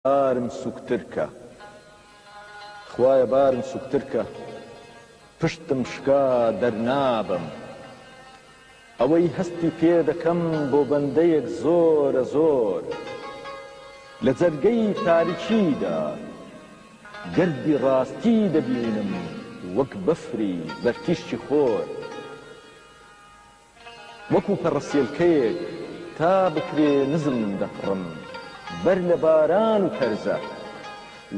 بارم سوکتر کە خوایە بارم سوکتر کە پشتم شکا دەرنابم ئەوەی هەستی پێ دەکەم بۆ بەندەیەک زۆرە زۆر لە جەرگەی تاریکیدا. گردی ڕاستی دەبینم وەک بەفری بەر تیشکی خۆر وەکو پەڕەسێلکەیەک تا بکرێ نزم دەپڕم بەر لە باران و تەرزە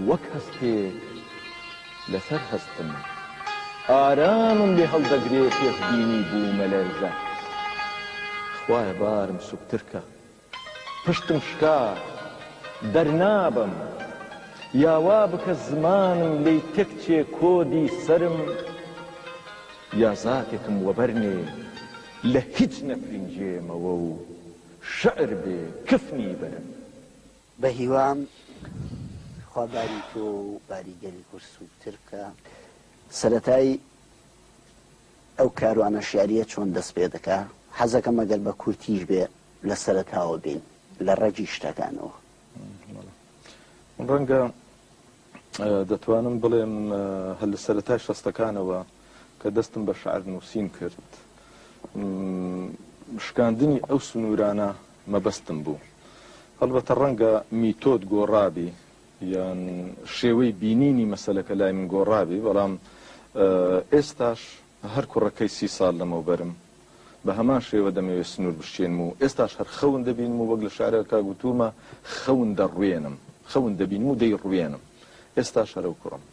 وەک هەستێک لەسەر هەستم ئارامم لێ هەڵدەگرێ پێشبینی بوومەلەرزە خوایە بارم سوکترکە. پشتم شکا، دەرنابەم. یا وا بکە زمانم لێی تێکچێ کۆدی سەرم یا زاتێکم وەبەرنێ لە هیچ نەفرینجێمەوە و شعر بێ کفنی بەرم. بە هیوام خوا باری تۆ و باری گەلی کورد سووکتر بکا. سەرەتای. ئەو کاروانە شیعرییە چۆن دەست پێ دەکا؟ حەزەکەم ئەگەر بە کورتیش بێ لە سەرەتاوە بین لە ڕەگی شتەکانەوە. ڕەنگە دەتوانم بڵێم هەر لە سەرەتای شەستەکانەوە کە دەستم بە شعر نووسین کرد شکاندنی ئەو سنوورانە مەبەستم بوو. هەڵبەتە ڕەنگە میتۆد گۆڕابی یان شێوەی بینینی مەسەلەکە لای من گۆڕابێ، بەڵام ئێستاش هەر کوڕەکەی سی ساڵ لەمەوبەرم بە هەمان شێوە دەمەوێ سنوور بشکێنم و ئێستاش هەر خەون دەبینم و وەک لە شارەکە گوتوومە خەون دەڕوێنم، خەون دەبینم و دەیڕوێنم. ئێستاش هەر ئەو کوڕەم.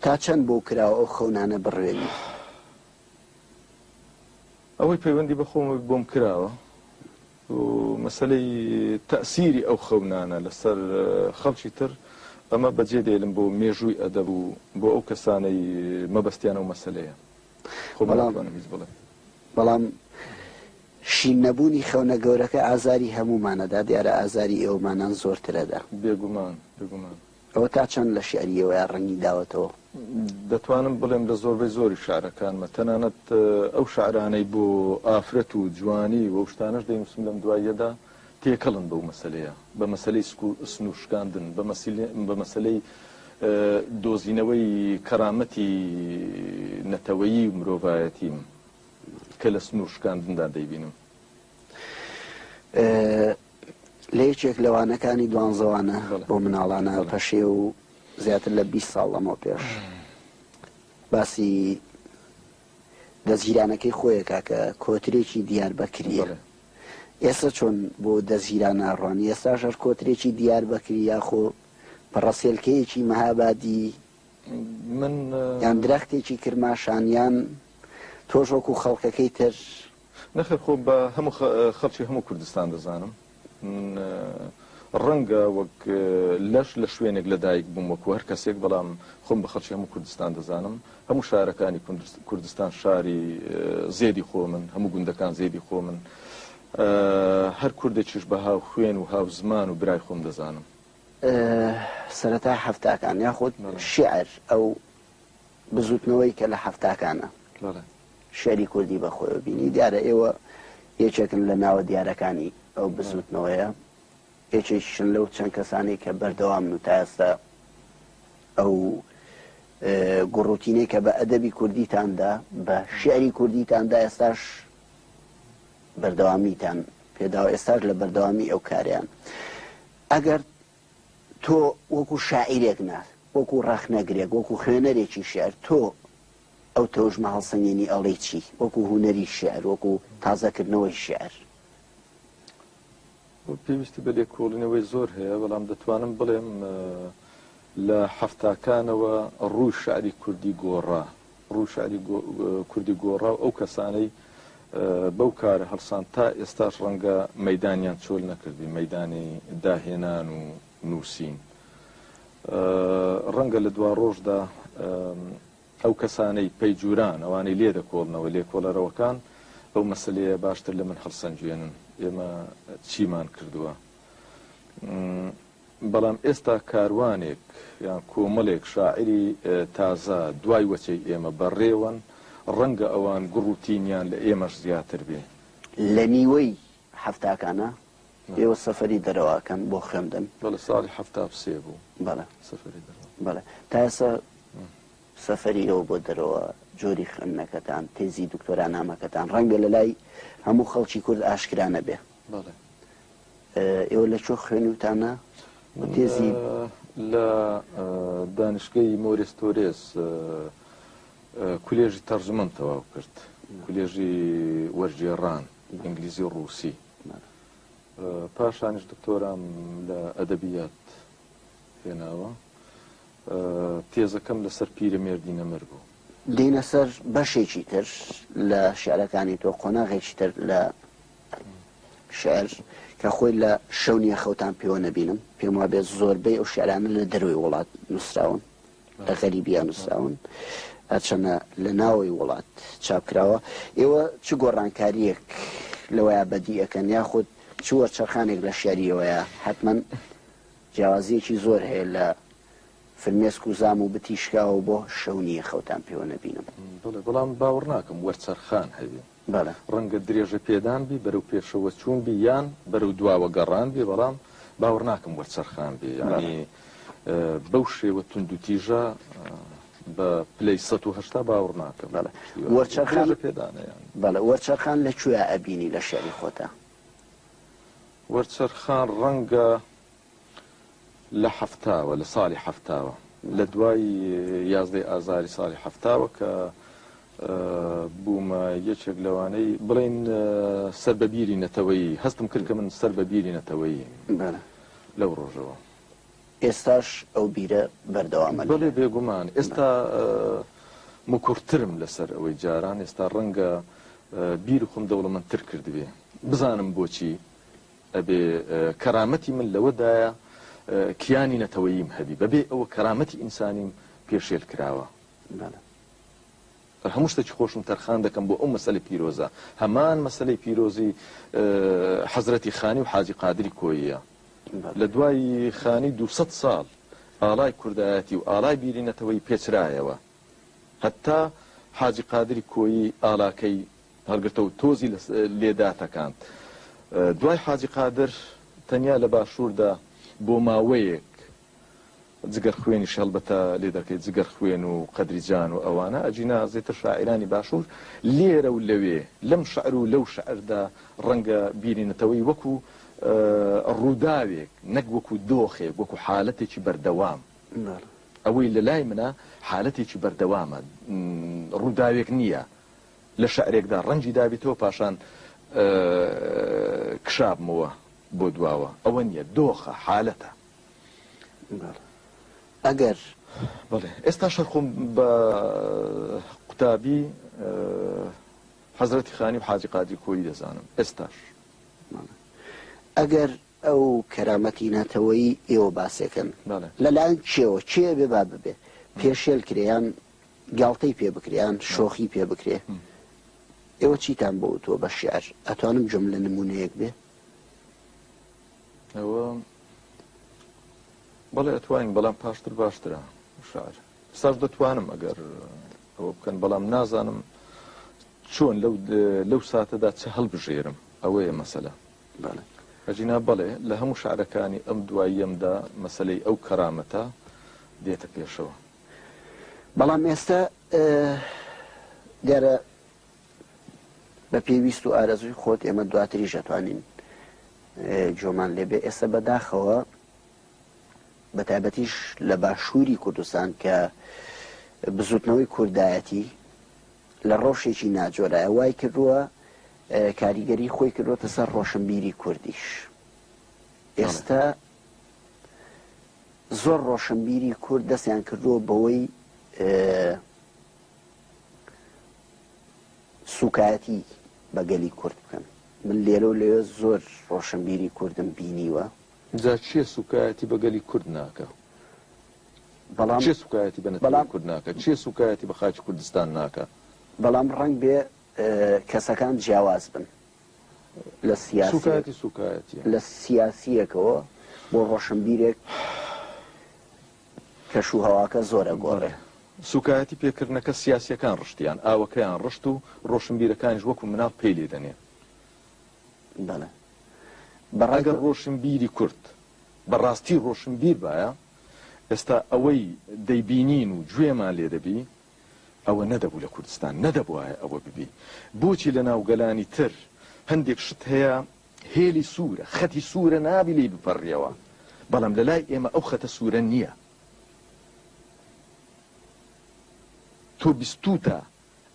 تا چەند بۆو کراوە ئەو خەونانە بڕوێنی؟ ئەوەی پەیوەندی بە خۆمەوە بۆم کراوە. و مەسەلەی تەئسیری ئەو خەونانە لەسەر خەڵکی تر، ئەمە بە جێ دێلم بۆ مێژووی ئەدەب و بۆ ئەو کەسانەی مەبەستیان ئەو مەسەلەیە. خۆم ناتوانم هیچ بڵێم. بەڵام شین نەبوونی خەونە گەورەکە ئازاری هەموومانە دا، دیارە ئازاری ئێوەمانان زۆرترە دا. بێگومان، بێگومان. ئەوە تا چەند لە شیعری ئێوەیا ڕەنگی داوەتەوە؟ دەتوانم بڵێم لە زۆربەی زۆری شیعرەکانمە، تەنانەت ئەو شیعرانەی بۆ ئافرەت و جوانی و ئەو شتانەش دەینووسم لەم دواییەدا تێکەڵن بەو مەسەلەیە، بە مەسەلەی سنوور شکاندن، بە مەسەلەی دۆزینەوەی کەرامەتی نەتەوەیی و مرۆڤایەتیم کە لە سنوور شکاندندا دەیبینم. لە یەکێک لە وانەکانی دوانزەوانە بۆ مناڵانە پەشێ و زیاتر لە 20 ساڵ لەمەوە پێش باسی دەزگیرانەکەی خۆیەکە کە کۆترێکی دیار بەکریە ئێستا چۆن بۆ دەزگیران ناڕوان ئێستا ژەر کۆترێکی دیار بەکری یاخۆ پڕەسێلکەیەکی مەهابادی من یان درەختێکی کرماشانیان تۆژۆک و خەڵکەکەی تر نەخێر خۆ بە هەموو خەڵکی هەموو کوردستان دەزانم من ڕەنگە وەک لەش لە شوێنێک لە دایک بووم وەکو هەر کەسێک بەڵام خۆم بە خەڵکی هەموو کوردستان دەزانم هەموو شارەکانی کوردستان شاری زێدی خۆ من هەموو گوندەکان زێدی خۆ من هەر کوردێکیش بە هاو خوێن و هاو زمان و برای خۆم دەزانم سەرەتای حەفتاکان یاخود شعر ئەو بزوتنەوەی کە لە حەفتاکانا شیعری کوردی بە خۆیەوە بینی، دیارە ئێوە یەکێکن لە ناوە دیارەکانی ئەو بزوتنەوەیە، یەکێکیشن لەو چەند کەسانەی کە بەردەوامن و تا ئێستا ئەو گوڕوتینەی کە بە ئەدەبی کوردیتان دا، بە شیعری کوردیتان دا ئێستاش بەردەوامیتان پێداوە، ئێستاش لە بەردەوامی ئەو کارەیان. ئەگەر تۆ وەکو شاعیرێک نا، وەکو ڕەخنەگرێک، وەکو خوێنەرێکی شیعر، تۆ ئەو تەوژمە هەڵسەنگێنی ئەڵێی چی؟ وەکو هونەری شیعر، وەکو تازەکردنەوەی شیعر. پێویستی بە لێکۆڵینەوەی زۆر هەیە، بەڵام دەتوانم بڵێم لە حەفتاکانەوە ڕووی شیعری کوردی گۆڕا. ڕووشانی کوردی گۆڕا و ئەو کەسانەی بەو کارە هەڵسان تا ئێستاش ڕەنگە مەدانیان چۆل نەکردی مەدانی داهێنان و نووسین ڕەنگە لە دوا ڕۆژدا ئەو کەسانەی پەیجوران ئەوانەی لێ دەکۆڵنەوە لێکۆڵەرەوەکان ئەو مەسلەیە باشتر لە من هەڵسەنگوێنن ئێمە چیمان کردووە بەڵام ئێستا کاروانێک یان کۆمەڵێک شاعیری تازە دوای وەچەی ئێمە بە ڕێوەن، ڕەنگە ئەوان گوڕ و تینیان لە ئێمەش زیاتر بێ. لە نیوەی حەفتاکانا ئێوە سەفەری دەرەوە ئەکەن بۆ خوێندن؟ بەڵێ ساڵی حەفتا و سێ بوو بەڵێ سەفەری دەرەوە. بەڵێ تا ئێستا سەفەری ئێوە بۆ دەرەوە، جۆری خوێندنەکەتان، تێزی دکتۆرا نامەکەتان ڕەنگە لە لای هەموو خەڵکی کورد ئاشکرا نەبێ. بەڵێ. ئێوە لە کوێ خوێنیوتانە و تێزی. لە دانشگەی مۆریس تۆرێس کولێژی تەرجمەم تەواو کرد کولێژی وەرگێڕان ئینگلیزی و ڕووسی پاشانیش دکتۆرام لە ئەدەبیات هێناوە تێزەکەم لەسەر پیرە مێردی نەمر بوو دینە سەر بەشێکی تر لە شعرەکانی تۆ قۆناغێکی تر لە شیعر کە خۆی لە شەو نییە خەوتان پێوە نەبینم پێم وابێت زۆربەی ئەو شعرانە لە دەروی وڵات نووسراون لە غەریبیان نووسراون هەرچەنە لە ناوەی وڵات چاپکراوە ئێوە چ گۆڕانکاریەک لەوەیە بەدیەکەن یاخود چوە چرخانێک لە شعریەوەیە حتمما جیاوازیەکی زۆر هەیە لە فرمێسک و زام و بتیشکاوە بۆ شەونیە خەوتان پێوە نەبینم بەڵام باوەڕ ناکەم وەرچەرخان هەبێت بەڵێ ڕەنگە درێژە پێدان بی بەرەو پێشەوە چوون بی یان بەرەو دواوە گەڕان بی بەڵام باوەڕ ناکەم وەرچەرخان بی یانی بەو شێوە توند و تیژە بە پلەی 1970 باوەڕ ناکەم بەڵێ وەرچەرخان پێدانەیە بەڵێ وەرچەرخان لە کوێ ئەبینی لە شعری خۆتە وەرچەرخان ڕەنگە لە حەفتاوە، لە ساڵی حەفتاوە، لە دوای یازدەی ئازاری ساڵی حەفتاوە کە بوومە یەکێک لەوانەی بڵێین سەر بە بیری نەتەوەیی، هەستم کرد کە من سەر بە بیری نەتەوەییم لەو ڕۆژەوە. ئێستاش ئەو بیرە بەردەوامە؟ بەڵێ بێگومان، ئێستا مکوڕترم لەسەر ئەوەی جاران، ئێستا ڕەنگە بیری خۆم دەوڵەمەندتر کردبێ، بزانم بۆچی؟ ئەبێ کەرامەتی من لەوەدایە کیانی نەتەوەییم هەبی، بەبێ ئەوە کەرامەتی ئینسانیم پێشێل کراوە. بەلە. هەموو شتێکی خۆشم تەرخان دەکەم بۆ ئەو مەسەلە پیرۆزە، هەمان مەسەلەی پیرۆزی حەزرەتی خانی و حاجی قادری کۆییە. لە دوای خانی دوو سەد ساڵ ئاڵای کوردایەتی و ئاڵای بیری نەتەوەیی پێچرایەوە. هەتا حاجی قادری کۆیی ئالاکەی هەڵگرتە و تۆزی لێ داتەکاند. دوای حاجی قادر تەنیا لە باشووردا بۆ ماوەیەک جگەر خوێنیش هەڵبەتە لێ دەکەی، جگەر خوێن و قەدری جان و ئەوانە، ئەگینا زێتر شاعیرانی باشوور لێرە و لەوێ، لەم شعر و لەو شعردا ڕەنگە بیری نەتەوەی وەکوو ڕووداوێک نەک وەکوو دۆخێک، وەکوو حالەتێکی بەردەوام. ئەوەی لە لای منە حالەتێکی بەردەوامە ڕووداوێک نییە لە شعرێکدا ڕەنگی دابیتەوە پاشان کشابمەوە بۆ دواوە ئەوە نییە دۆخە حالەتە ئەگەر بەڵێ ئێستا شەرخۆم بە قوتابی حەزرەتی خانی و حاجی قادری کۆی دەزانم ئێستاش ئەگەر ئەو کەرامەتی نەتەوەیی ئێوە باسێکەن لە لایەن کێوە کێ ئەبێ با ببێ پێشێل کرێ یان گاڵتەی پێ بکرێ یان شۆخی پێ بکرێ ئێوە چیتان بۆ وتووە بە شیعر ئەتوانم جۆم لە نمونەیەک بێ ئەوە بەڵێ ئەتوانین بەڵام پاشتر باشترە شار ساش دەتوانم ئەگەر ئەوە بکەن بەڵام نازانم چۆن لەو لەو ساتەدا چ هەڵبژێرم ئەوەیە مەسەلە بەڵێ. ئەگینا بەڵێ، لە هەموو شعرەکانی ئەم دواییەمدا مەسەلەی ئەو کەرامەتە دێتە پێشەوە. بەڵام ئێستا دیارە بە پێی ویست و ئارەزووی خۆت ئێمە دواتریش ئەتوانین گوێمان لێ بێ. ئێستا بە داخەوە بە تایبەتیش لە باشووری کوردستان کە بزووتنەوەی کوردایەتی لە ڕەوشێکی ناجۆرایە وای کردووە کاریگەری خۆی کردووەتە سەر ڕۆشنبیری کوردیش ئێستا زۆر ڕۆشنبیری کورد دەستیان کردووە بەوەی سوکایەتی بەگەلی کورد بکەن من لێرە و لێ زۆر ڕۆشنبیری کوردم بینیوە جا چییە سوکایەتی بەگەلی کورد ناکە بەڵام چێ سوکایەتی بە نەتەوەی بەڵام کورد ناکا؟ چێ سوکایەتی بە خاکی کوردستان ناکا؟ بەڵام ڕەنگ بێ کەسەکان جیاواز بن لە سیاسیەک سوکایەتی سوکایەتیە. لە سیاسیەکەوە بۆ ڕۆشنبیرێک کەش و هەواکە زۆر بەڵێ ئەگۆڕێ. سوکایەتی پێکردنەکە سیاسیەکان ڕشتیان، ئاوەکەیان ڕشت و ڕۆشنبیرەکانیش وەکو مناڵ پێی لێ دەنێن. بەڵێ بە ڕای ئەگەر تۆ ڕۆشنبیری کورد بە ڕاستی ڕۆشنبیر بایە، ئێستا ئەوەی دەیبینین و گوێمان لێ دەبی ئەوە نەدەبوو لە کوردستان نەدەبوایە ئەوە ببی بۆچی لە ناو گەلانی تر هەندێک شت هەیە هێلی سوورە خەتی سوورە نابی لی بپەڕیەوە بەڵام لە لای ئێمە ئەو خەتە سوورە نییە تۆ بیستوتە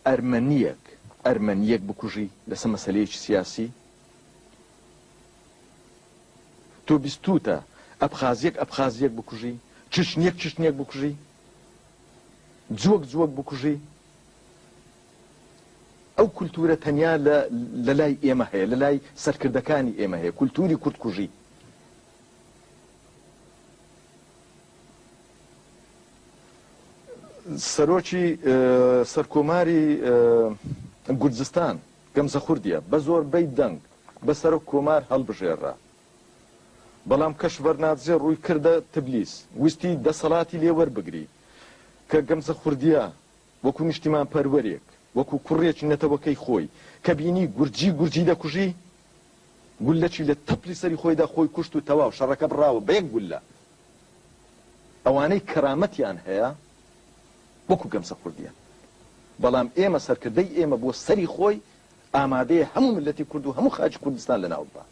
ئەرمەنیەک ئەرمەنیەک بکوژی لەسە مەسەلەیەکی سیاسی؟ تۆ بیستوتە ئەبخازیەک ئەبخازیەک بکوژی؟ چچنیەک چچنیەک بکوژی؟ جوەک جوەک بکوژی؟ ئەو کولتورە تەنیا لە لەلای ئێمە هەیە لەلای سەرکردەکانی ئێمە هەیە کولتوری کورد کوژی. سەرۆکی سەرکۆماری گورجستان گەمزە خوردیە بە زۆربەی دەنگ بە سەرۆک کۆمار هەڵبژێررا، بەڵام کەشڤەرنادزێ ڕووی کردە تبلیس ویستی دەسەڵاتی لێ وەربگری کە گەمزە خوردیە وەکو نیشتیمانپەروەرێک، وەکو کوڕێکی نەتەوەکەی خۆی کە بینی گورجی گورجی دەکوژی، گوللەکی لە تەپلی سەری خۆیدا خۆی کوشت و تەواو شەڕەکە بڕاوە بە یەک گوللە. ئەوانەی کەرامەتیان هەیە وەکو گەمسە کوردیان بەڵام ئێمە سەرکردەی ئێمە بۆ سەری خۆی ئامادەیە هەموو ملەتی کورد و هەموو خاکی کوردستان لەناو ببا.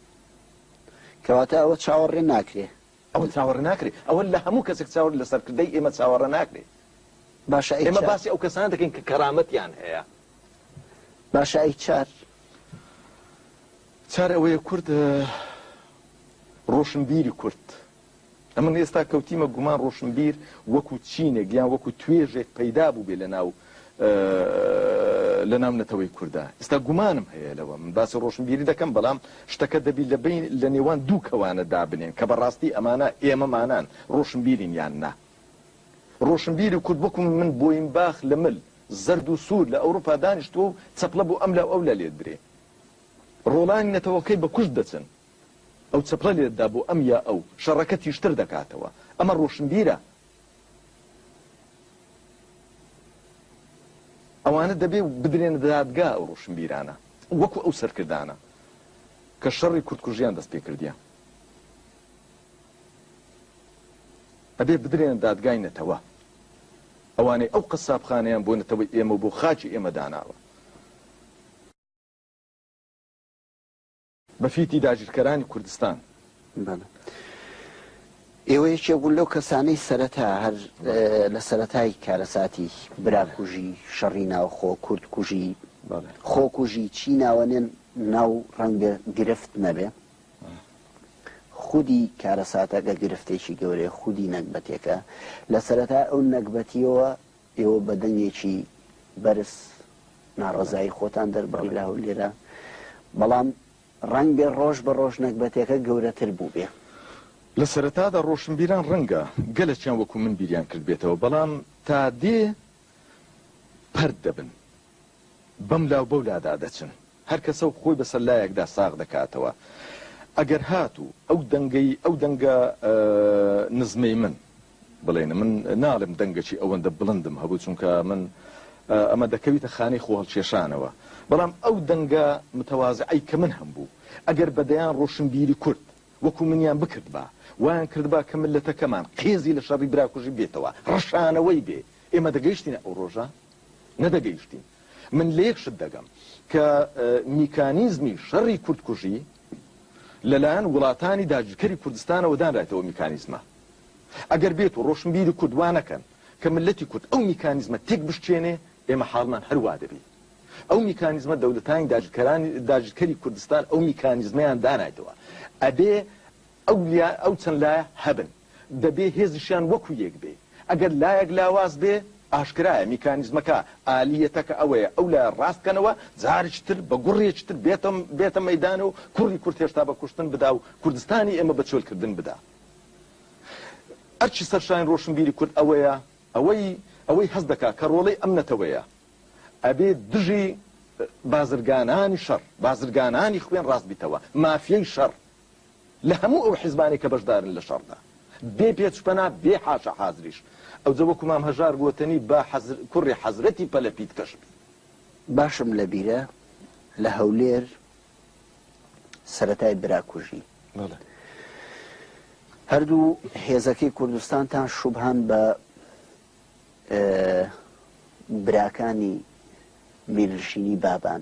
کەواتە ئەوە چاوەڕێ ناکرێ. ئەوە چاوەڕێ ناکرێ ئەوە لە هەموو کەسێک چاوەڕێ لە سەرکردەی ئێمە چاوەڕێ ناکرێ. باشە ئەی چ؟ ئێمە باسی ئەو کەسانە دەکەین کە کەرامەتیان هەیە. باشە ئەی چار؟ چار ئەوەیە کورد ڕۆشنبیری کورد ئەمن ئێستا کەوتیمە گومان ڕۆشنبیر وەکو چینێک یان وەکو توێژێک پەیدا بووبێ لە ناو لە ناو نەتەوەی کوردا ئێستا گومانم هەیە لەوە من باسی ڕۆشنبیری دەکەم بەڵام شتەکە دەبی لە بین لە نێوان دوو کەوانە دابنێن کە بەڕاستی ئەمانە ئێمەمانان ڕۆشنبیرین یان نا ڕۆشنبیری کورد وەکو من بۆیم باخ لە مل زرد و سوور لە ئەوروپا دانیشتووە و چەپڵە بۆ ئەم لە ئەو لە لێدرێ ڕۆڵانی نەتەوەکەی بە کوشت دەچن ئەو چەپڵە لێت دا بۆ ئەم یا ئەو، شەڕەکە تیژتر دەکاتەوە. ئەمە ڕۆشنبیرە. ئەوانە دەبێ بدرێنە دادگا ئەو ڕۆشنبیرانە، وەکو ئەو سەرکردانە کە شەڕی کوردکوژیان دەست پێ کردیە. ئەبێ بدرێنە دادگای نەتەوە. ئەوانەی ئەو قەسابخانەیان بۆ نەتەوەی ئێمە و بۆ خاکی ئێمە داناوە. بە فیتی داگیرکەرانی کوردستان. بەڵێ ئێوە یەکێک بوون لەو کەسانەی سەرەتا هەر لە سەرەتای کارەساتی براکوژی شەڕی ناوخۆ کورد کوژی خۆکوژی چی ناوەنێن ناو ڕەنگە گرفت نەبێ خودی کارەساتەکە گرفتێکی گەورەیە خودی نەگبەتێکە لە سەرەتا ئەو نەگبەتیەوە ئێوە بە دەنگێکی بەرز ناڕەزایی خۆتان دەربڕی لە هەولێرا، بەڵام ڕەنگبێ ڕۆژ بە ڕۆژ نەگبەتێکە گەورەتر بووبێ. لە سەرەتادا ڕۆشنبیران ڕەنگە گەلەکیان وەکوو من بیریان کردبێتەوە، بەڵام تا دێ پەرت دەبن. بەم لاو بەو لادا دەچن هەر کەسە و خۆی بەسەر لایەکدا ساغ دەکاتەوە ئەگەر هات و ئەو دەنگەی ئەو دەنگە نزمەی من بڵێن من ناڵێم دەنگەکی ئەوەندە بڵندم هەبوو چونکە من ئەمە دەکەویتە خانەی خۆهەڵکێشانەوە بەڵام ئەو دەنگە متەوازعەی کە من هەم بوو ئەگەر بەدەیان ڕۆشنبیری کورد وەکو منیان بکردبا وایان کردبا کە ملەتەکەمان قێزی لە شەڕی براکوژی بێتەوە ڕەشانەوەی بێ ئێمە دەگەیشتینە ئەو ڕۆژە نەدەگەیشتین. من لە یەک شت دەگەم کە میکانیزمی شەڕی کوردکوژی لەلایەن وڵاتانی داگیرکەری کوردستانەوە دانرایتەوە میکانیزمە ئەگەر بێت و ڕۆشنبیری کورد وانەکەن کە ملەتی کورد ئەو میکانیزمە تێک بشکێنێ ئێمە حاڵمان هەروا دەبی ئەو میکانیزمە دەولەتانی داگیرکەرانی داگیرکەری کوردستان ئەو میکانیزمیان دانایتەوە ئەبێ ئەو ئەو چەند لایە هەبن دەبێ هێزیشیان وەکو یەک بێ، ئەگەر لایەک لاواز بێ، ئاشکرایە میکانیزمەکە، ئالیەتەکە ئەوەیە ئەو لایە ڕاست بکەنەوە، جارێکی تر بە گوڕێکی تر بێتە مەیدان و کوڕی کورد هێشتا بە کوشتن بدا و کوردستانی ئێمە بە چۆل کردن بدا. ئەرکی سەرشانی ڕۆشنبیری کورد ئەوەیە، ئەوەی ئەوەی هەست دەکا کە ڕۆڵەی ئەم نەتەوەیە، ئەبێ دژی بازرگانانی شەڕ، بازرگانانی خوێن ڕاست بیتەوە، مافیای شەڕ، لە هەموو ئەو حیزبانەی کە بەشدارن لە شەڕدا، بێ پێچپەنا، بێ حاشا حازریش. ئەوجە وەکو مام هەژار گۆتەنی، با حەزر، کوڕی حەزرەتی پەلە پیتکەش بی. باشم لە بیرە لە هەولێر سەرەتای براکوژی، بەڵێ. هەردوو هێزەکەی کوردستانتان شوبهەن بە براکانی میرنشینی بابان.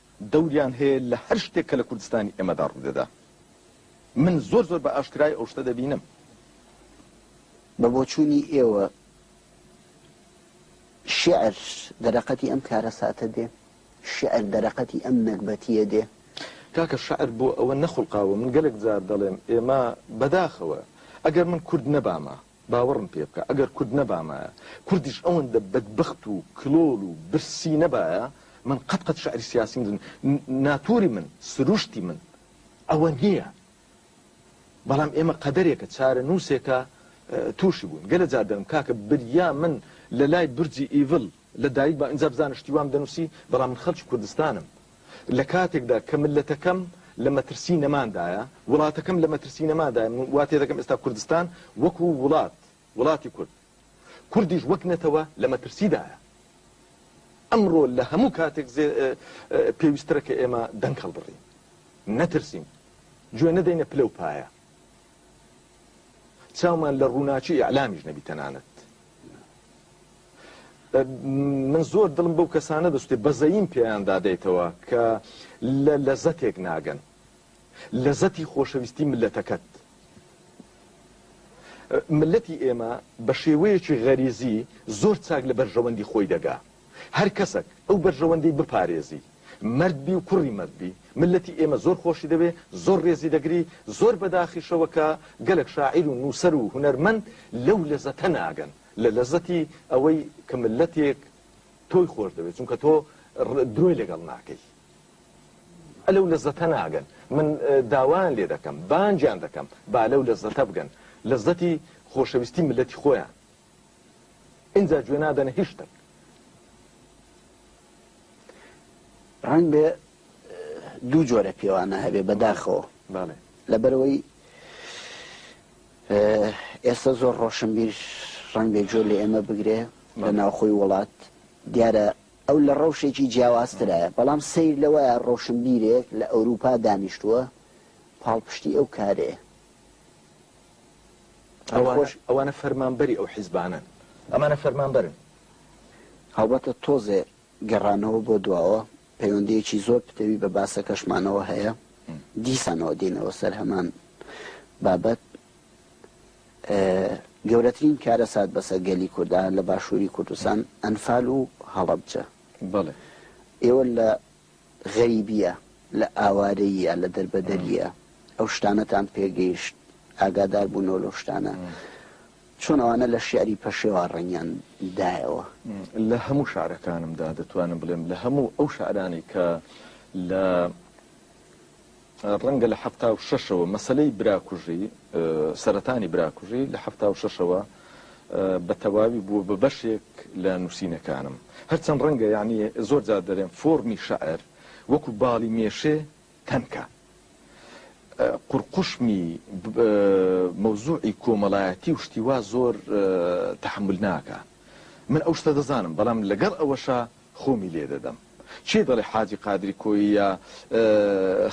دەوریان هەیە لە هەر شتێک کە لە کوردستانی ئێمەدا ڕوودەدا من زۆر زۆر بە ئاشکرای ئەو شتە دەبینم. بە بۆچوونی ئێوە شیعر دەرەقەتی ئەم کارەساتە دێ؟ شیعر دەرەقەتی ئەم نەگبەتییە دێ؟ کاکە شیعر بۆ ئەوە نەخوڵقاوە من گەلێک جار دەڵێم ئێمە بەداخەوە ئەگەر من کورد نەبامە باوەڕم پێ بکە ئەگەر کورد نەبامایە، کوردیش ئەوەندە بەدبەخت و کلۆڵ و برسی نەبایە، من قەت قەت شعری سیاسیم دن ناتوری من، سروشتی من ئەوە نییە. بەڵام ئێمە قەدەرێکە، چارەنووسێکە تووشی بووین. گەلە جار دەلم کاکە بریا من لە لای برجی ئیڤل لە دایک بم، ئینجا بزانە شتی وام دەنووسی، بەڵام من خەلکی کوردستانم. لە کاتێکدا کە مللەتەکەم لە مەترسی نەماندایە، وڵاتەکەم لە مەترسی نەماندایە، من وا تێدەگەم ئێستا کوردستان وەکو وڵات، وڵاتی کورد، کوردیش وەک نەتەوە لە مەترسیدایە. ئەمڕۆ لە هەموو کاتێک زێ پێویستترە کە ئێمە دەنگ هەڵبڕین، نەترسین، گوێ نەدەینە پلە و پایە، چاومان لە ڕووناکی ئیعلامیش نەبی تەنانەت. من زۆر دڵم بەو کەسانە دەسوتێ بەزەییم پێیان دادەیتەوە کە لە لەزەتێک ناگەن لەزەتی خۆشەویستی ملەتەکەت ملەتی ئێمە بە شێوەیەکی غەریزی زۆر چاک لە بەرژەوەندی خۆی دەگا هەر کەسەک ئەو بەرژەوەندی بپارێزی مردبی و کوڕی مردبی ملەتی ئێمە زۆر خۆشی دەوێ زۆر ڕێزی دەگری زۆر بەداخیشەوە کە گەلک شاعیر و نووسەر و هونەرمەند لەو لەزەتە ناگەن لە لەزەتی ئەوەی کە ملەتێک تۆی خۆش دەوێت چونکە تۆ درۆی لەگەڵ ناکەی ئە لەو لەزەتە ناگەن من داوایان لێ دەکەم بانجان دەکەم با لەو لەزەتە بگەن لەزەتی خۆشەویستی ملەتی خۆیان ئینجا گوێ نادەنە هیچ شتێک ڕەنگ بێ دوو جۆرە پێوانە هەبێ بەداخەوە بەڵێ لەبەرەوەی ئێستا زۆر ڕۆشنبیر ڕەنگە گوێ لە ئێمە بگرێ لە ناوخۆی وڵات، دیارە ئەو لە ڕەوشێکی جیاوازترایە، بەڵام سەیر لەوەیە ڕۆشنبیرێک لە ئەوروپا دانیشتووە پاڵپشتی ئەو کارەیە. ئەوانە فەرمانبەری ئەو حیزبانەن. ئەمانە فەرمانبەرن. هەڵبەتە تۆزێ گەڕانەوە بۆ دواوە پەیوەندییەکی زۆر پتەوی بە باسەکەشمانەوە هەیە، دیسانەوە دێینەوە سەر هەمان بابەت. گەورەترین کارەسات بەسەر گەلی کوردا لە باشووری کوردستان ئەنفال و هەڵەبجە. ئێوە لە غەریبییە، لە ئاوارەییە، لە دەربەدەرییە ئەو شتانەتان پێگەیشت، ئاگاداربوونەوە لەو شتانە. چۆن ئەوانە لە شیعری پەشێوا ڕەنگیان دایەوە؟ لە هەموو شارەکانمدا دەتوانم بڵێم لە هەموو ئەو شارانەی کە لە ڕەنگە لە حەفتا و شەشەوە مەسەلەی براکوژی سەرەتانی براکوژی لە حەفتا و شەشەوە بە تەواوی بووە بە بەشێک لە نووسینەکانم هەرچەند ڕەنگە یعنی زۆر جار دەرێن فۆرمی شعر وەکو باڵی مێشێ تەنکە قورقوشمی مەوزوعی کۆمەڵایەتی و شتی وا زۆر تەحەمول ناکا من ئەو شتە دەزانم بەڵام لەگەڵ ئەوەشا خۆمی لێ دەدەم چێ دەڵێ حاجی قادری کۆیە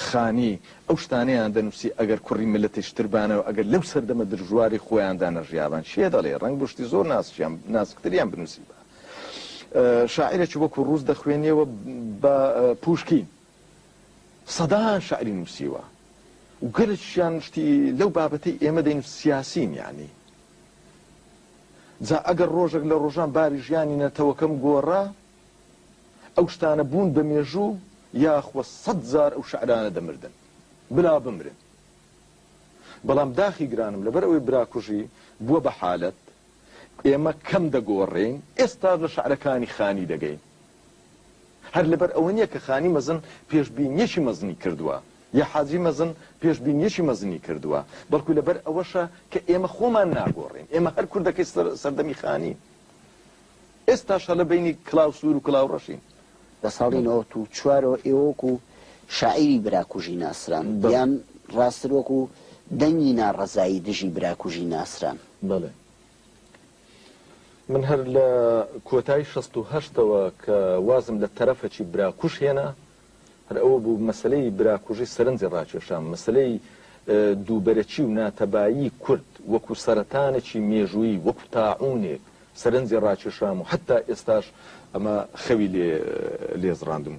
خانی ئەو شتانەیان دەنووسی ئەگەر کوڕی ملەتێش تربانەوە ئەگەر لەو سەردەمە درژواری خۆیاندا نەژیابان چێ دەڵێ ڕنگ بشتی زۆر ناسیان ناسکتریان بنووسی بە شاعرێکی وەکو ڕوز دەخوێنیەوە بە پوشکین سەدان شعری نووسیوە و گەلەکیشیان شتی لەو بابەتەی ئێمە دەین سیاسین یانی جا ئەگەر ڕۆژێک لە ڕۆژان باری ژیانی نەتەوەکەم گۆڕا ئەو شتانە بوون بە مێژوو یاخوە سەد جار ئەو شعرانە دەمردن بلا بمرن بەڵام داخی گرانم لەبەر ئەوەی براکوژی بووە بە حالەت ئێمە کەم دەگۆڕین ئێستاش لە شعرەکانی خانی دەگەین هەر لەبەر ئەوە نییە کە خانی مەزن پێشبینییەکی مەزنی کردووە یا حاجی مەزن پێشبینییەکی مەزنی کردووە، بەڵکو لەبەر ئەوەشە کە ئێمە خۆمان ناگۆڕین، ئێمە هەر کوردەکەی سەردەمی خانین، ئێستاش هەر لە بەینی کڵاو سوور و کڵاو ڕەشین. لە ساڵی نەوەت و چوارەوە ئێوە وەکو شاعیری براکوژی ناسران، یان ڕاستتر وەکو دەنگی ناڕەزایی دژی براکوژی ناسران. بەڵێ. من هەر لە کۆتای شەست و هەشتەوە کە وازم لە تەرەفەکی براکوژ هێنا، هەر ئەوە بوو مەسەلەی براکوژی سەرنجی ڕاکێشام، مەسەلەی دووبەرەکی و ناتەبایی کورد وەکوو سەرەتانێکی مێژوویی، وەکوو تاعوونێک سەرنجی ڕاکێشام و حەتتا ئێستاش ئەمە خەوی لێ زڕاندم،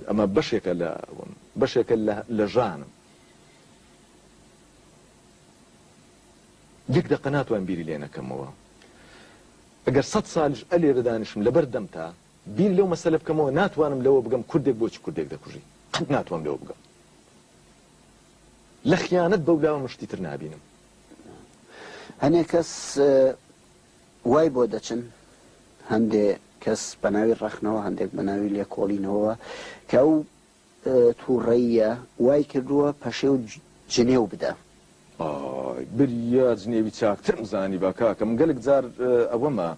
ئەمە بەشێکە لە ئەوەم، بەشێکە لە ژانم. یەک دەقە ناتوانم بیری لێ نەکەمەوە ئەگەر سەد سالیش ئە لێرە دانیشم لەبەر دەمتا بیر لەو مەسەلە بکەمەوە ناتوانم لەوە بگەم کوردێک بۆچی کوردێک دەکوژی قەت ناتوانم لەوە بگەم لە خیانەت بەولاوە من شتی تر نابینم هەنێ کەس وای بۆ دەچن هەندێ کەس بەناوی ڕەخنەوە هەندێک بەناوی لێکۆڵینەوە کە ئەو توڕەییە وای کردووە پەشێو جنێو بدە. ئای بریا جنێوی چاکترم زانیبا کاکە من گەلەک جار ئەوەمە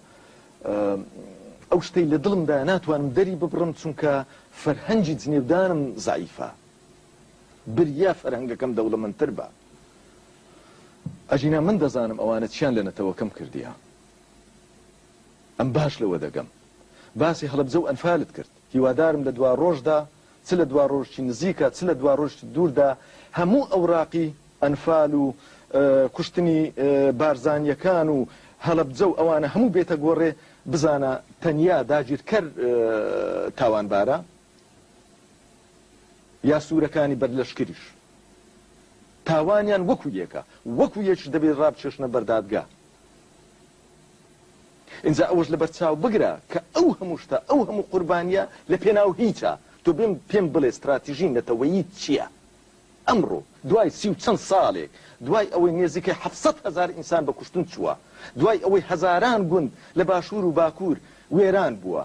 ئەو شتەی لە دڵمدایە ناتوانم دەری ببڕم چونکە فەرهەنگی جنێودانم زەعیفە بریا فەرهەنگەکەم دەوڵەمەندتر بە ئەژینا من دەزانم ئەوانە چیان لە نەتەوەکەم کردیە ئەم باش لەوە دەگەم باسی هەڵەبجە و ئەنفالت کرد هیوادارم لە دواڕۆژدا، چ لە دواڕۆژێکی نزیکە چ لە دواڕۆژێکی دووردا، هەموو ئەوراقی ئەنفال و کوشتنی بارزانییەکان و هەڵەبجە و ئەوانە هەموو بێتە گۆڕێ، بزانە تەنیا داگیرکەر تاوانبارە، یا سوورەکانی بەر لەشکریش تاوانیان وەکو یەکە، وەکو یەکیش دەبێ ڕابکێشنە بەر دادگا. ئینجا ئەوەش لەبەر چاو بگرە کە ئەو هەموو شتە، ئەو هەموو قوربانییە لە پێناو هیچە. تۆ بێم پێم بڵێ ستراتیژی نەتەوەییت چییە؟ ئەمڕۆ دوای سی و چەند ساڵێک، دوای ئەوەی نێزیکەی حەفت سەد هەزار ئینسان بە کوشتن چووە، دوای ئەوەی هەزاران گوند لە باشوور و باکوور وێران بووە،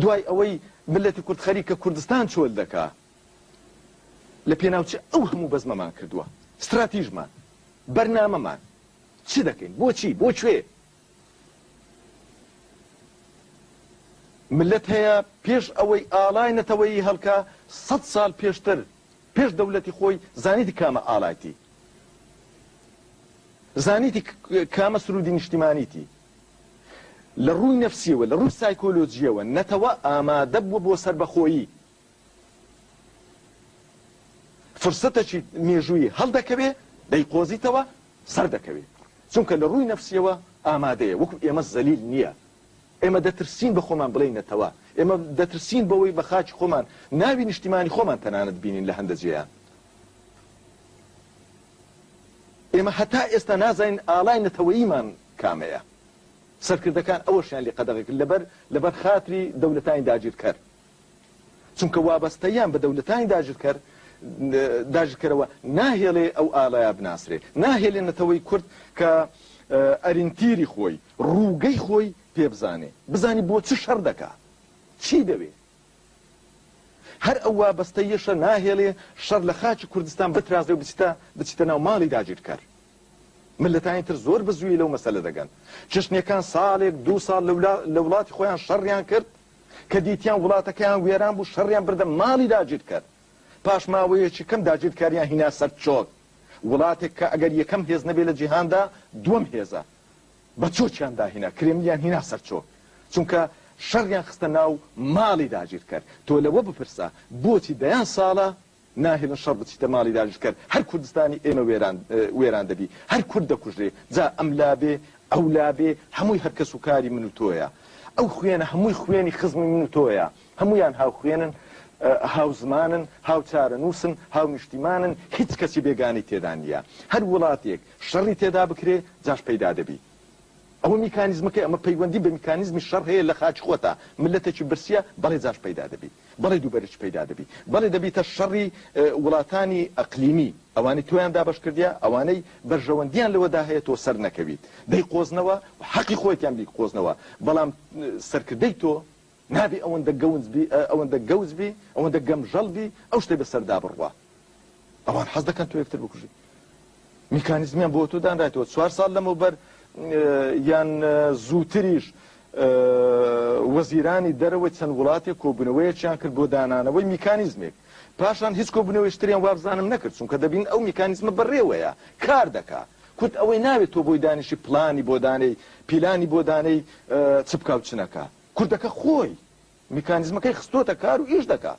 دوای ئەوەی میللەتی کورد خەریکە کوردستان چۆل دەکا، لە پێناو چ ئەو هەموو بەزمەمان کردووە؟ ستراتیژمان، بەرنامەمان، چ دەکەین؟ بۆ چی؟ بۆ کوێ؟ ملت هەیە پێش ئەوەی ئاڵای نەتەوەیی هەڵکا سەد ساڵ پێشتر پێش دەولەتی خۆی زانیتی کامە ئاڵایتی زانیتی کامە سرودی نیشتیمانیتی لە ڕووی نەفسیەوە لە ڕووی سایکۆلۆجیەوە نەتەوە ئامادە بووە بۆ سربەخۆیی فرسەتەکی مێژووی هەڵدەکەوێ دەیقۆزیتەوە سەردەکەوێت چونکە لە ڕووی نەفسیەوە ئامادەیە وەکو ئێمە زەلیل نیە ئێمە دەترسین بە خۆمان بڵێین نەتەوە ئێمە دەترسین بەوەی بە خاکی خۆمان ناوی نیشتیمانی خۆمان تەنانەت بینین لە هەندە جێیان ئێمە هەتا ئێستا نازانین ئاڵای نەتەوەیمان کامەیە سەرکردەکان ئەوەشیان لێ قەدەغەکرد لەبەر لەبەر خاتری دەولەتانی داگیرکەر چونکە وابەستەییان بە دەولەتانی داگیرکەر داگیرکەرەوە ناهێڵێ ئەو ئالایە بناسرێ، ناهێلێ نەتەوەی کورد کە ئەرینتیری خۆی، رووگەی خۆی پێبزانێ، بزانی بۆ چ شەر دەکا، چی دەوێ. هەر ئەو وابەستەییەشە ناهێڵێ شەر لە خاکی کوردستان بترازێ و بچیتە بچیتە ناو ماڵی داگیرکەر. مللەتانی تر زۆر بە زوویی لەو مەسەلە دەگەن. چشنییەکان ساڵێک، دوو ساڵ لە ولاتی خۆیان شەڕیان کرد، کە دیتیان وڵاتەکەیان وێران بوو شەڕیان بردە ماڵی داگیرکەر، پاش ماوەیەکی کەم داگیرکاریان هینا سەر چۆک، وڵاتێک کە ئەگەر یەکەم هێز نەبێت لە جیهاندا دووەم هێزە، بە چۆکیان داهینا، کرێملیان هینا سەر چۆک، چونکە شەڕیان خستە ناو ماڵی داگیرکەر، تۆ لەوە بپرسە بۆچی دەیان ساڵە ناهێلن شەڕ بچیتە ماڵی داگیرکەر، هەر کوردستانی ئێمە وێران وێران دەبی، هەر کورد دەکوژرێ، جا ئەم لا بێ ئەو لا بێ، هەمووی هەر کەس و کاری من و تۆیە. ئەو خوێنە هەمووی خوێنی خزمی من و تۆیە، هەموویان هاوخوێنن، هاوزمانن، هاوچارەنووسن، هاونیشتیمانن، هیچ کەسی بێگانەی تێدا نییە. هەر وڵاتێک شەڕی تێدا بکرێ، جاش پەیدا دەبی. ئەوە میکانیزمەکەی، ئەمە پەیوەندی بە میکانیزمی شەڕ هەیە لە خاکی خۆتا، مللەتێکی برسییە، بەڵێ جاش پەیدا دەبی. بەڵێ دووبەرەکی پەیدا دەبی. بەڵێ دەبیتە شەڕی وڵاتانی ئەقلیمی، ئەوانەی تۆیان دابەش کردیە، ئەوانەی بەرژەوەندیان لەوەدا هەیە تۆ سەر نەکەویت، دەیقۆزنەوە و حەقی خۆیتیان بیقۆزنەوە، بەڵام سەرکردەی تۆ نابی ئەوەندە گەونج بی، ئەوەندە گەوج بی، ئەوەندە گەمژەڵ بی ئەو شتەی بەسەردا بڕوا. ئەوان حەز دەکەن تۆ یەکتر بکوژی. میکانیزمیان بۆ تۆ دانرایتەوە چوار ساڵ لەمەوبەر یان زووتریش وەزیرانی دەرەوەی چەند وڵاتێک کۆبوونەوەیەکیان کرد بۆ دانانەوەی میکانیزمێک پاشان هیچ کۆبوونەوەشتریان وابزانم نەکرد چونکە دەبین ئەو میکانیزمە بەڕێوەیە کار دەکا کورد ئەوەی ناوێت تۆ بۆی دانیشی پلانی بۆدانەی پیلانی بۆدانەی چ بکاو چنەکە کوردەکە خۆی میکانیزمەکەی خستۆتە کار و ئیش دەکا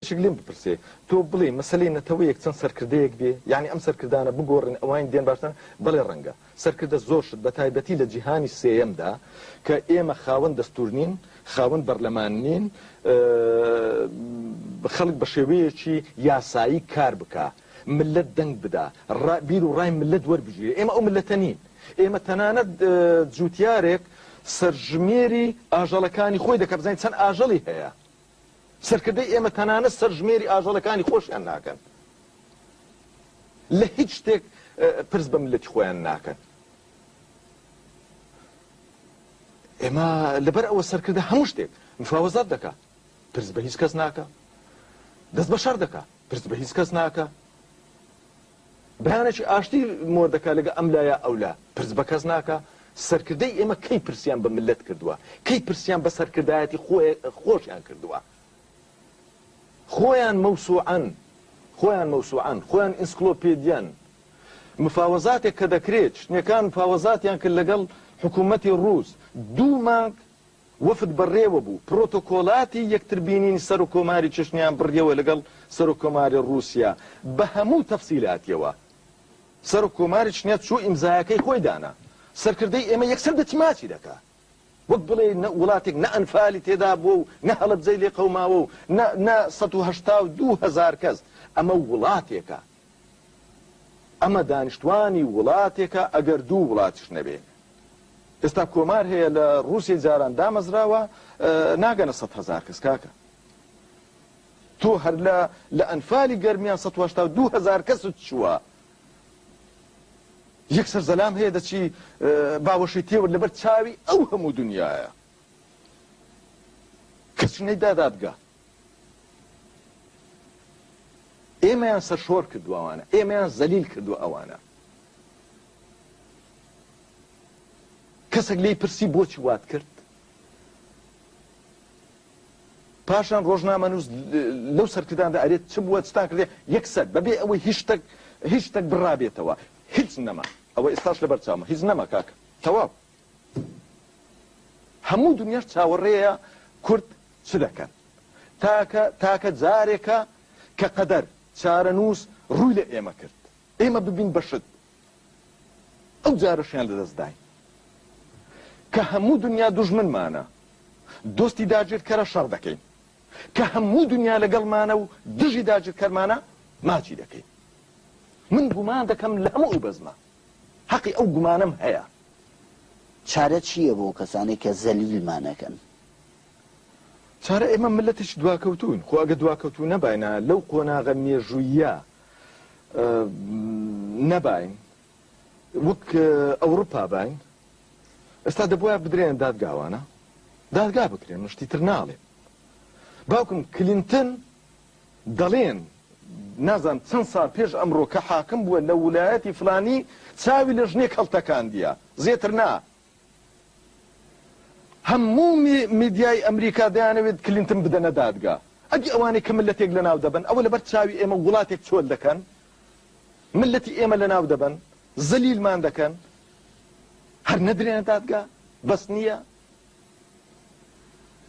شک لێم بپرسێ تۆ بڵێی مەسەلەی نەتەوەیەک چەند سەرکردەیەک بێ یانی ئەم سەرکردانە بگۆڕن ئەوانی دێن باشترن بەڵێ ڕەنگە سەرکردە زۆر شت بە تایبەتی لە جیهانی سێیەمدا کە ئێمە خاوەن دەستور نین خاوەن بەرلەمان نین خەڵک بە شێوەیەکی یاسایی کار بکا ملت دەنگ بدا بیر و ڕای ملت وەربگیرێ ئێمە ئەو ملەتە نین ئێمە تەنانەت جوتیارێک سەرژمێری ئاژەڵەکانی خۆی دەکە بزانین چەند ئاژەڵی هەیە سەرکردەی ئێمە تەنانەت سەرژمێری ئاژەڵەکانی خۆشیان ناکەن، لە هیچ شتێک پرس بە میللەتی خۆیان ناکەن. ئێمە لەبەر ئەوە سەرکردە هەموو شتێک مفاوەزات دەکا پرس بە هیچ کەس ناکە دەست بە شەر دەکا پرس بە هیچ کەس ناکە بەیانێکی ئاشتی مۆر دەکا لەگە ئەم لا یا ئەولا پرس بە کەس ناکا، سەرکردەی ئێمە کەی پرسیان بە مللەت کردوە؟ کەی پرسیان بە سەرکردایەتی خۆشیان کردوە؟ خۆیان مەوسوعەن، خۆیان مەوسوعەن، خۆیان ئینسکلۆپێدیان، مفاوەزاتێک کە دەکرێت، چنیەکان مفاوەزاتیان کرد لەگەڵ حکومەتی ڕووس دوو مانگ، وەفد بەڕێوە بوو، پرۆتۆکۆلاتی یەکتر بینینی سەرۆک کۆماری چەچنیان بڕیەوە لەگەڵ سەرۆک کۆماری ڕووسیا بە هەموو تەفسیلاتیەوە. سەرۆک کۆماری چچنیا چوو ئیمزایەکەی خۆی دانا. سەرکردەی ئێمە یەکسەر دەچماچی دەکا. وەک بڵێی نە وڵاتێک نە ئەنفالی تێدا بووە و نە هەڵەبجەی لێ قەوماوە و نە نە سەد و هەشتا و دوو هەزار کەس. ئەمە وڵاتێکە. ئەمە دانیشتوانی وڵاتێکە ئەگەر دوو وڵاتیش نەبێ ئێستا کۆمار هەیە لە ڕووسی جاران دامەزراوە ناگەنە سە هزار کەس کاکە تۆ هەر لە لە ئەنفالی گەرمیان 1970 هزار کەست چووە یەکسەر زەلام هەیە دەچی باوەشی تێوە لەبەر چاوی ئەو هەموو دنیاە کەچنەی دادادگە ئێمەیان سەرشۆر کردوە ئەوانە ئێمەیان زەلیل کردوە ئەوانە کەسێک لی پرسی بۆچی وات کرد پاشان ڕۆژنامە نووس لەو سەرکرداندا ئەرێت چ بووە چتان کردێ یەکسەر بەبێ ئەوەی هیچ شتێک هیچ شتێک بڕابێتەوە هیچ نەما ئەوە ئێستاش لە بەرچاومە هیچ نەما کاکە تەواو هەموو دنیاش چاوەڕێیە کورد چ دەکەن. تاکە تاکە جارێکە کە قەدەر، چارەنووس، ڕووی لە ئێمە کرد. ئێمە ببین بە شت. ئەو جارەشیان لە دەست داین. کە هەموو دنیا دوژمنمانە، دۆستی داگیرکەرە شەڕ دەکەین. کە هەموو دنیا لەگەڵمانە و دژی داگیرکەرمانە ماچی دەکەین. من گومان دەکەم لە هەموو ئەو بەزمە. هەقی ئەو گومانەم هەیە. چارە چیە بۆ کەسانەی کە زەلیل مانەکەن؟ چارە ئێمە ملەتێکی دواکەوتوین خۆ ئەگە دواکەوتو نەباینە لەو قۆناغە مێژوویە نەباین وەک ئەوڕپا باین ئێستا دەبواە بدرێن دادگاوانە دادگا بکرێن مشتی تر ناڵێ باوکم کلینتن دەڵێن نازانم چەند ساڵ پێش ئەمڕۆ کە حاکم بووە لە ولایەتی فلانی چاوی لە ژنێک هەڵتەکاندیە زێتر نا هەموو میدیای ئەمریکا دەیانەوێت کلینتن بدەنە دادگا ئەدی ئەوانەی کە ملەتێک لە ناو دەبن ئەوە لەبەر چاوی ئێمە وڵاتێک چۆل دەکەن ملەتی ئێمە لە ناو دەبن زەلیلمان دەکەن هەر نەدرێنە دادگا بەس نییە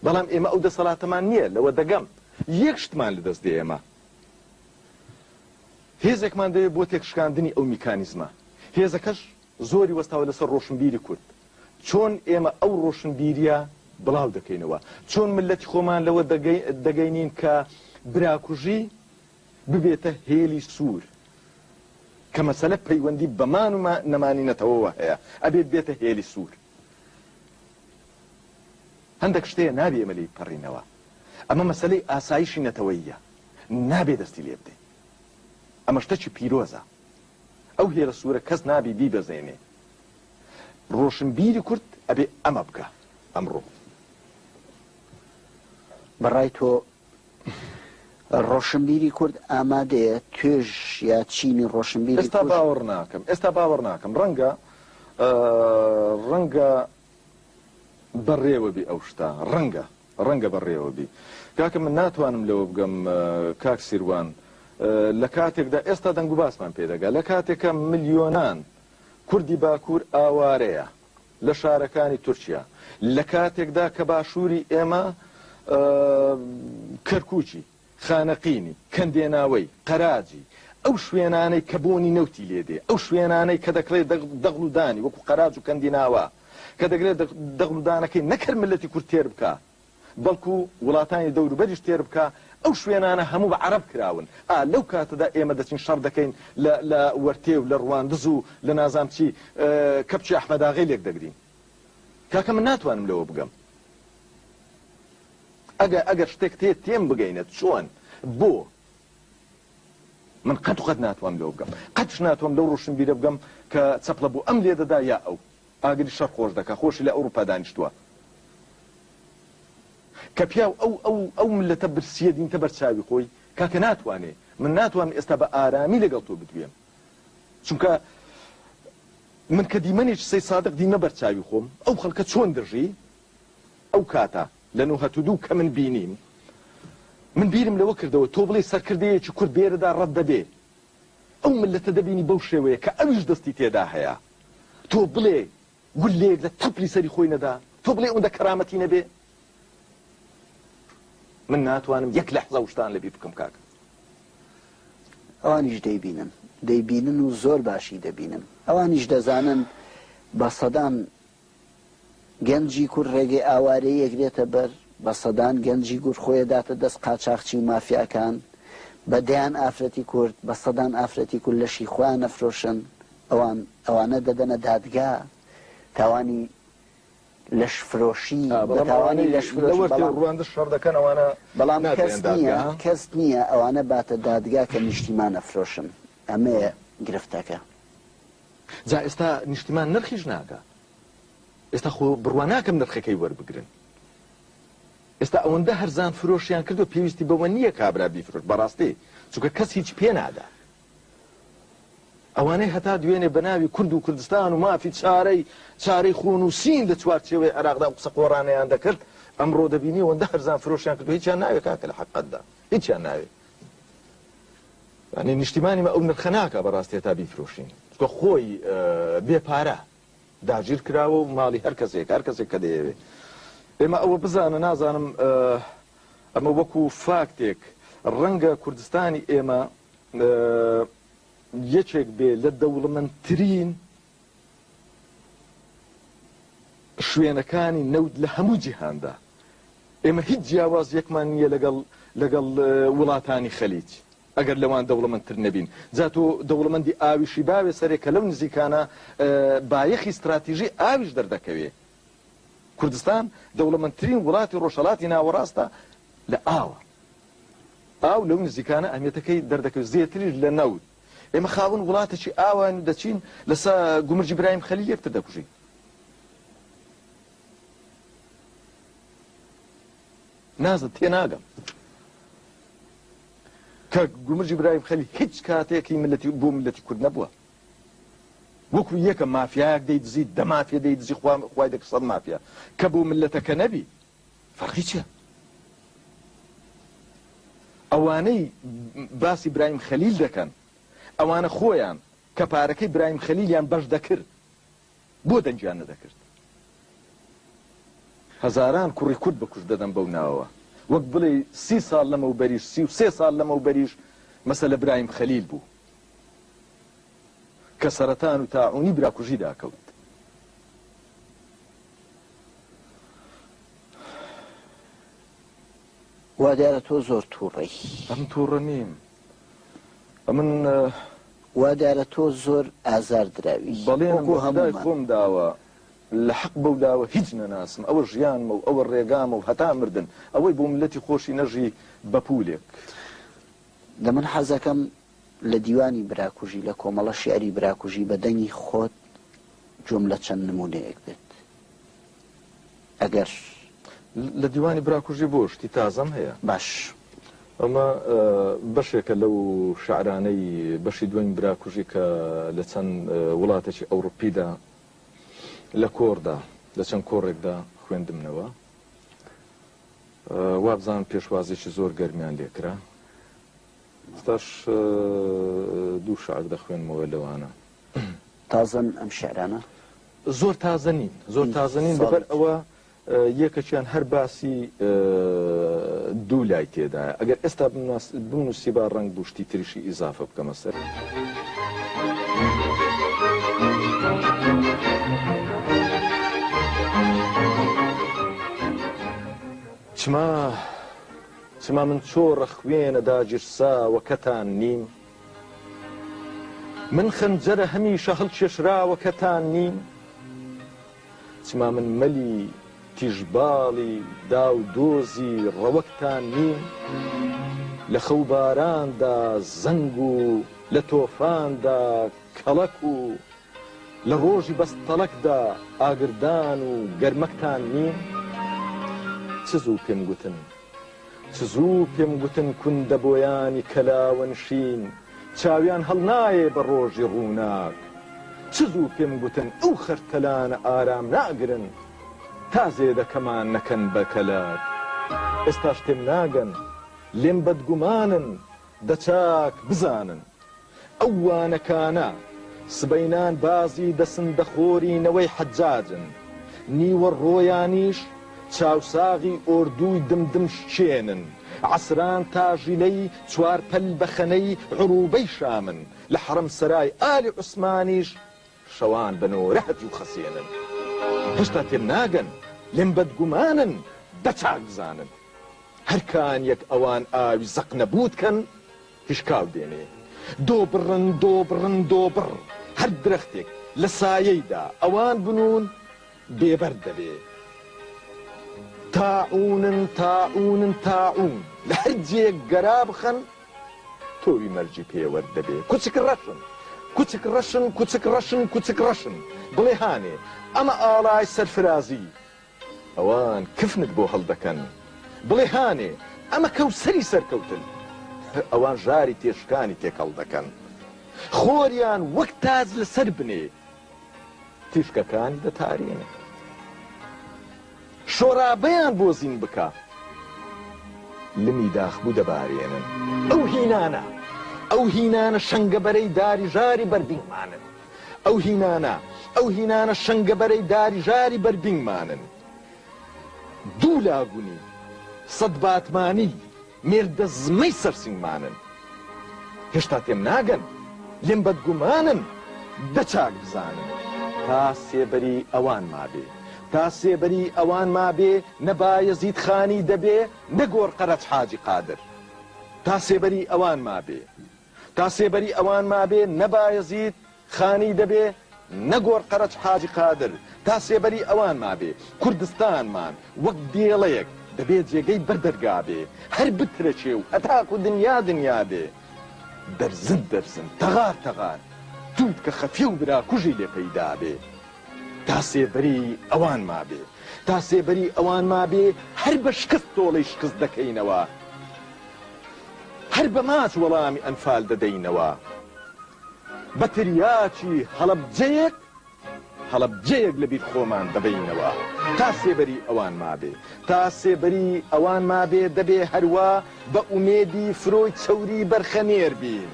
بەڵام ئێمە ئەو دەسەڵاتەمان نییە لەوە دەگەم یەک شتمان لەدەست دێ ئێمە هێزێکمان دەوێت بۆ تێکشکاندنی ئەو میکانیزمە هێزەکەش زۆری وەستاوە لەسەر ڕۆشنبیری کورد چۆن ئێمە ئەو ڕۆشنبیریە بڵاو دەکەینەوە چۆن ملەتی خۆمان لەوە دەگەینین کە براکوژی ببێتە هێلی سوور کە مەسەلە پەیوەندی بەمان و نەمانی نەتەوەوە هەیە ئەبێت بێتە هێلی سوور هەندەک شتێ نابێ ئێمە لێی بپەڕینەوە، ئەمە مەسەلەی ئاسایشی نەتەوەییە، نابێ دەستی لێ بدەین. ئەمە شتەکی پیرۆزە. ئەو هێرە سوورە کەس نابێ بیبەزێنێ. ڕۆشنبیری کورد ئەبێ ئەمە بکا ئەمڕۆ. بە ڕای تۆ ڕۆشنبیری کورد ئامادەیە توێژ یا چینی ڕۆشنبیری ئێستا باوەڕ ناکەم ئێستا باوەڕ ناکەم ڕەنگە ڕەنگە بەڕێوەبی ئەو شتا ڕەنگە ڕەنگە بەڕێوەبی کاکە من ناتوانم لەوە بگەم کاک سیروان لە کاتێکدا ئێستا دەنگ و باسمان پێدەگا لە کاتێکە ملیۆنان کوردی باکوور ئاوارەیە لە شارەکانی تورکیا لە کاتێکدا کە باشووری ئێمە کەرکووکی، خانەقینی، کەندێناوەی، قەراجی، ئەو شوێنانەی کە بۆنی نەوتی لێ دێ، ئەو شوێنانەی کە دەکرێ دەغل و دانی وەکوو قەراج و کەندیناوە کە دەکرێ دەغل و دانەکەی نەکەر میللەتی کورد تێر بکا، بەڵکو وڵاتانی دەوروبەریش تێربکە ئەو شوێنانە هەموو بە عەرەب کراون ئا لەو کاتەدا ئێمە دەچین شەڕ دەکەین لە لە وەرتێ و لە ڕواندز و لە نازام چی کەپچی ئەحمەداغەی لێک دەگرین کاکە من ناتوانم لەوە بگەم ئەگە ئەگەر شتێک تێ تێم بگەینە چۆن بۆ من قەت قەت ناتوانم لەوە بگەم قەتش ناتوانم لەو ڕۆشنبیرە بگەم کە چەپڵە بۆ ئەم لێ دەدا یا ئەو ئاگری شەڕ خۆش دەکا خۆشی لە ئەوروپا دانیشتوە کە پیاو ئەو ئەو ئەو ملەتە برسیە دینتە بەر چاوی خۆی کاکە ناتوانێ من ناتوانم ئێستا بە ئارامی لەگەڵ تۆ بدوێم چونکە من کە دیمەنێکی سەی سادق دیمە بەر چاوی خۆم ئەو خەڵکە چۆن دەژی ئەو کاتە لە نۆ هەتو دوو کە من بینیم من بیرم لەوە کردەوە تۆ بڵێ سەرکردەیەکی کورد دێرەدا ڕەت دەبێ ئەو مللەتە دەبینی بەو شێوەیە کە ئەویش دەستی تێدا هەیە تۆ بڵێ گوللەیەک لە تەپلی سەری خۆی نەدا تۆ بڵێ ئەوندە کەرامەتی نەبێ من ناتوانم یەک لەحزە ئەو شتان لەبیر بکەم کاک ئەوانیش دەیبینن دەیبینن و زۆر باشی دەبینن ئەوانیش دەزانن بە سەدان گەنجی کورد ڕێگەی ئاوارەیی ئەگرێتە بەر، بە سەدان گەنجی گورد خۆی ئەداتە دەست قاچاخچی و مافیاکان، بە دەیان ئافرەتی کورد، بە سەدان ئافرەتی کورد لەشی خۆیان ئەفرۆشن، ئەوان ئەوانە دەدەنە دادگا، تاوانی لەش فرۆشی، بە تاوانی لەش فرۆشی، بەڵام بەڵام کەس نییە، کەس نییە ئەوانە باتە دادگا کە نیشتیمان ئەفرۆشن، ئەمەیە گرفتەکە. جا ئێستا نیشتیمان نرخیش نادات ئێستا خۆ بڕوا ناکەم نرخەکەی وەربگرن ئێستا ئەوەندە هەرزان فرۆشیان کردو پێویستی بەوە نییە کابرا بیفرۆش بەڕاستی چونکە کەس هیچ پێ نادا ئەوانەی هەتا دوێنێ بە ناوی کورد و کوردستان و مافی چارەی چارەی خۆن و سین لە چوارچێوەی عێراقدا و قسە قۆڕانەیان دەکرد ئەمڕۆ دەبینی ئەوەندە هەرزان فرۆشیان کردو هیچیان ناوێت کاکە لە حەقەتدا هیچیان ناوێت یانی نیشتیمانی مە ئەو نرخە ناکا بەڕاستی هەتا بیفرۆشین چکە خۆی بێ پارە داگیر کراوە و ماڵی هەر کەسێک هەر کەسێک کە دەیەوێ ئێمە ئەوە بزانە نازانم ئەمە وەکو فاکتێک ڕەنگە کوردستانی ئێمە یەکێک بێ لە دەوڵەمەندترین شوێنەکانی نەوت لە هەموو جیهاندا. ئێمە هیچ جیاوازیەکمان نییە لەگەڵ لەگەڵ وڵاتانی خەلیج ئەگەر لەوان دەوڵەمەندتر نەبین. جا تۆ دەوڵەمەندی ئاویشی باوێ سەرێ کە لەو نزیکانە بایەخی ستراتیژی ئاویش دەردەکەوێ. کوردستان دەوڵەمەندترین وڵاتی ڕۆژهەڵاتی ناوەڕاستە لە ئاوە. ئاو لەو نزیکانە ئەهمیەتەکەی دەردەکەوێ زێتریش لە نەوت. ئێمە خاوەن وڵاتەکی ئاواین و دەچین لەسە گومرگی برایم خەلیل یەکتر دەکوژین. نازم تێناگەم کە گومرگی برایم خەلیل هیچ کاتێک هی میللەتی بۆ میللەتی کورد نەبووە. وەکو یەکە مافیایەک دەیدزی دە مافیە دەیدزی خوا خوای دەکرد سەد مافیا کە بۆ میللەتەکە نەبی. فەرقی چیە؟ ئەوانەی باسی برایم خەلیل دەکەن ئەوانە خۆیان کە پارەکەی برایم خەلیلیان بەش دەکرد بۆ دەنگیان نەدەکرد؟ هەزاران کوڕی کورد بە کوشت دەدەن بەو ناوەوە وەک بڵێی سی ساڵ لەمەوبەریش سی و سێ ساڵ لەمەوبەریش مەسەلە برایم خەلیل بوو. کە سەرەتان و تاعونی براکوژی داکەوت. وا دیارە تۆ زۆر تووڕەی. من تووڕە نیم. من. وا دیارە تۆ زۆر ئازار دراوی. بەڵێنم بە خودای خۆم داوە، لە حەق بەو داوە هیچ نەناسم. ئەوە ژیانمە و ئەوە ڕێگامە و هەتا مردن ئەوەی بۆ مللەتی خۆشی نەژی بە پوولێک. دە من حەزەکەم لە دیوانی براکوژی لە کۆمەڵە شیعری براکوژی بە دەنگی خۆت گوێم لە چەند نموونەیەک بێت ئەگەر. لە دیوانی براکوژی بۆ شتی تازەم هەیە. باش. ئەمە بەشێکە لەو شعرانەی بەشی دوەمی براکوژی کە لە چەند وڵاتێکی ئەوڕوپیدا لە کۆڕدا لە چەند کۆڕێکدا خوێندمنەوە وابزانم پێشوازیی زۆر گەرمیان لێکرا. ستاش دوو شعر دەخوێنمەوە لەوانە. تازەن ئەم شعرانە؟ زۆر تازە نین زۆر تازە نین لەبەر ئەوە یەکەکیان هەر باسی دوو لای تێدایە ئەگەر ئێستا بنووسی با ڕنگ بوشتی تریشی ئیزافە بکەمە سەر. چما چما من چۆڕە خوێنە داگیرساوەکەتان نیم؟ من خەنجەرە هەمیشە هەڵکێشراوەکەتان نیم؟ چما من مەلی تیژباڵی داو دۆزی ڕەوەکتان نیم؟ لە خەو باراندا زەنگ و لە تۆفاندا کەڵەک و لە ڕۆژی بەستەڵەکدا ئاگردان و گەرمەکتان نییە؟ چ زوو پێم گوتن، چ زوو پێم گوتن کوندە بۆیانی کەلاوەنشین چاویان هەڵنایێ بە ڕۆژی ڕووناک، چ زوو پێم گوتن ئەو خەرتەلانە ئارام ناگرن تا زێدەکەمان نەکەن بە کەلار. ئێستاش تێم ناگەن، لێم بەدگومانن، دە چاک بزانن. ئەو وانەکانە سبەینان بازی دەسن دەخۆری نەوەی حەجاجن نیوە ڕۆیانیش چاوساغی ئۆردووی دم دم شکێنن عەسران تاژیلەی چوار پەل بەخەنەی عروبەی شامن لە حەرەم سەرای ئالی عوسمانیش شەوان بە نۆرە هەتیو خەسێنن هێشتا تێم ناگەن لێم بەدگومانن دە چاک بزانن هەر کانیەک ئەوان ئاوی زەق نەبووت کەن هشکاو دێنێ. دۆبڕن دۆبڕن دۆبڕ هەر درەختێک لە سایەیدا ئەوان بنوون بێ بەرد دەبێ. تاعوونن تاعوونن تاعوون لە هەر جێیەک گەرا بخەن تۆوی مەرگی پێوەر دەبێ. کوچک ڕەشن کوچک ڕەشن کوچک ڕەشن کوچک ڕەشن بڵێ هانێ ئەمە ئاڵای سەرفرازی. ئەوان کفنت بۆ هەڵدەکەن. بڵێ هانێ، ئەمە کەوسەری سەرکەوتن. ئەوان ژاری تێشکانی تێکەڵ دەکەن. خۆریان وەک تاج لەسەر بنێ تیشکەکانی دەتارێنن. شۆرابیان بۆ زین بکە، لمی داخبوو دەبارێنن. ئەو هینانە، ئەو هینانە شەنگەبەرەی داری ژاری بەردینمانن. ئەو هینانە، ئەو هینانە شەنگە بەرەی داری ژاری بەر بینگمانن. دوو لاگونی سەد باتمانی مێردە زمەی سەر سینگمانن. هێشتا تێم ناگەن، لێم بەدگومانن، دە چاک بزانن. تا سێبەری ئەوان مابێ، تا سێبەری ئەوان مابێ، نە بایەزید خانی دەبێ، نە گۆڕقەرەج حاجی قادر. تا سێبەری ئەوان مابێ. تا سێبەری ئەوان مابێ نە بایەزید خانی دەبێ نە گۆڕ قەرەچ حاجی قادر، تا سێبەری ئەوان مابێ کوردستانمان وەک دێڵێک دەبێ جێگەی بەر دەرگا بێ، هەر بترەکێ و هەتاکو دنیا دنیا بێ. دەرزن دەرزن، تەغار تەغار، تووتکە خەفیە و برا کوژی لێ پەیدا بێ. تا سێبەری ئەوان مابێ، تا سێبەری ئەوان مابێ هەر بە شکست تۆڵەی شکست دەکەینەوە. هەر بە ماچ وەڵامی ئەنفال دەدەینەوە. بە تریاکی هەڵەبجەیەک هەڵەبجەیەک لە بیر خۆمان دەبەینەوە. تا سێبەری ئەوان مابێ. تا سێبەری ئەوان مابێ دەبێ هەروا بە ئومێدی فرۆی چەوری بەرخەنێر بین.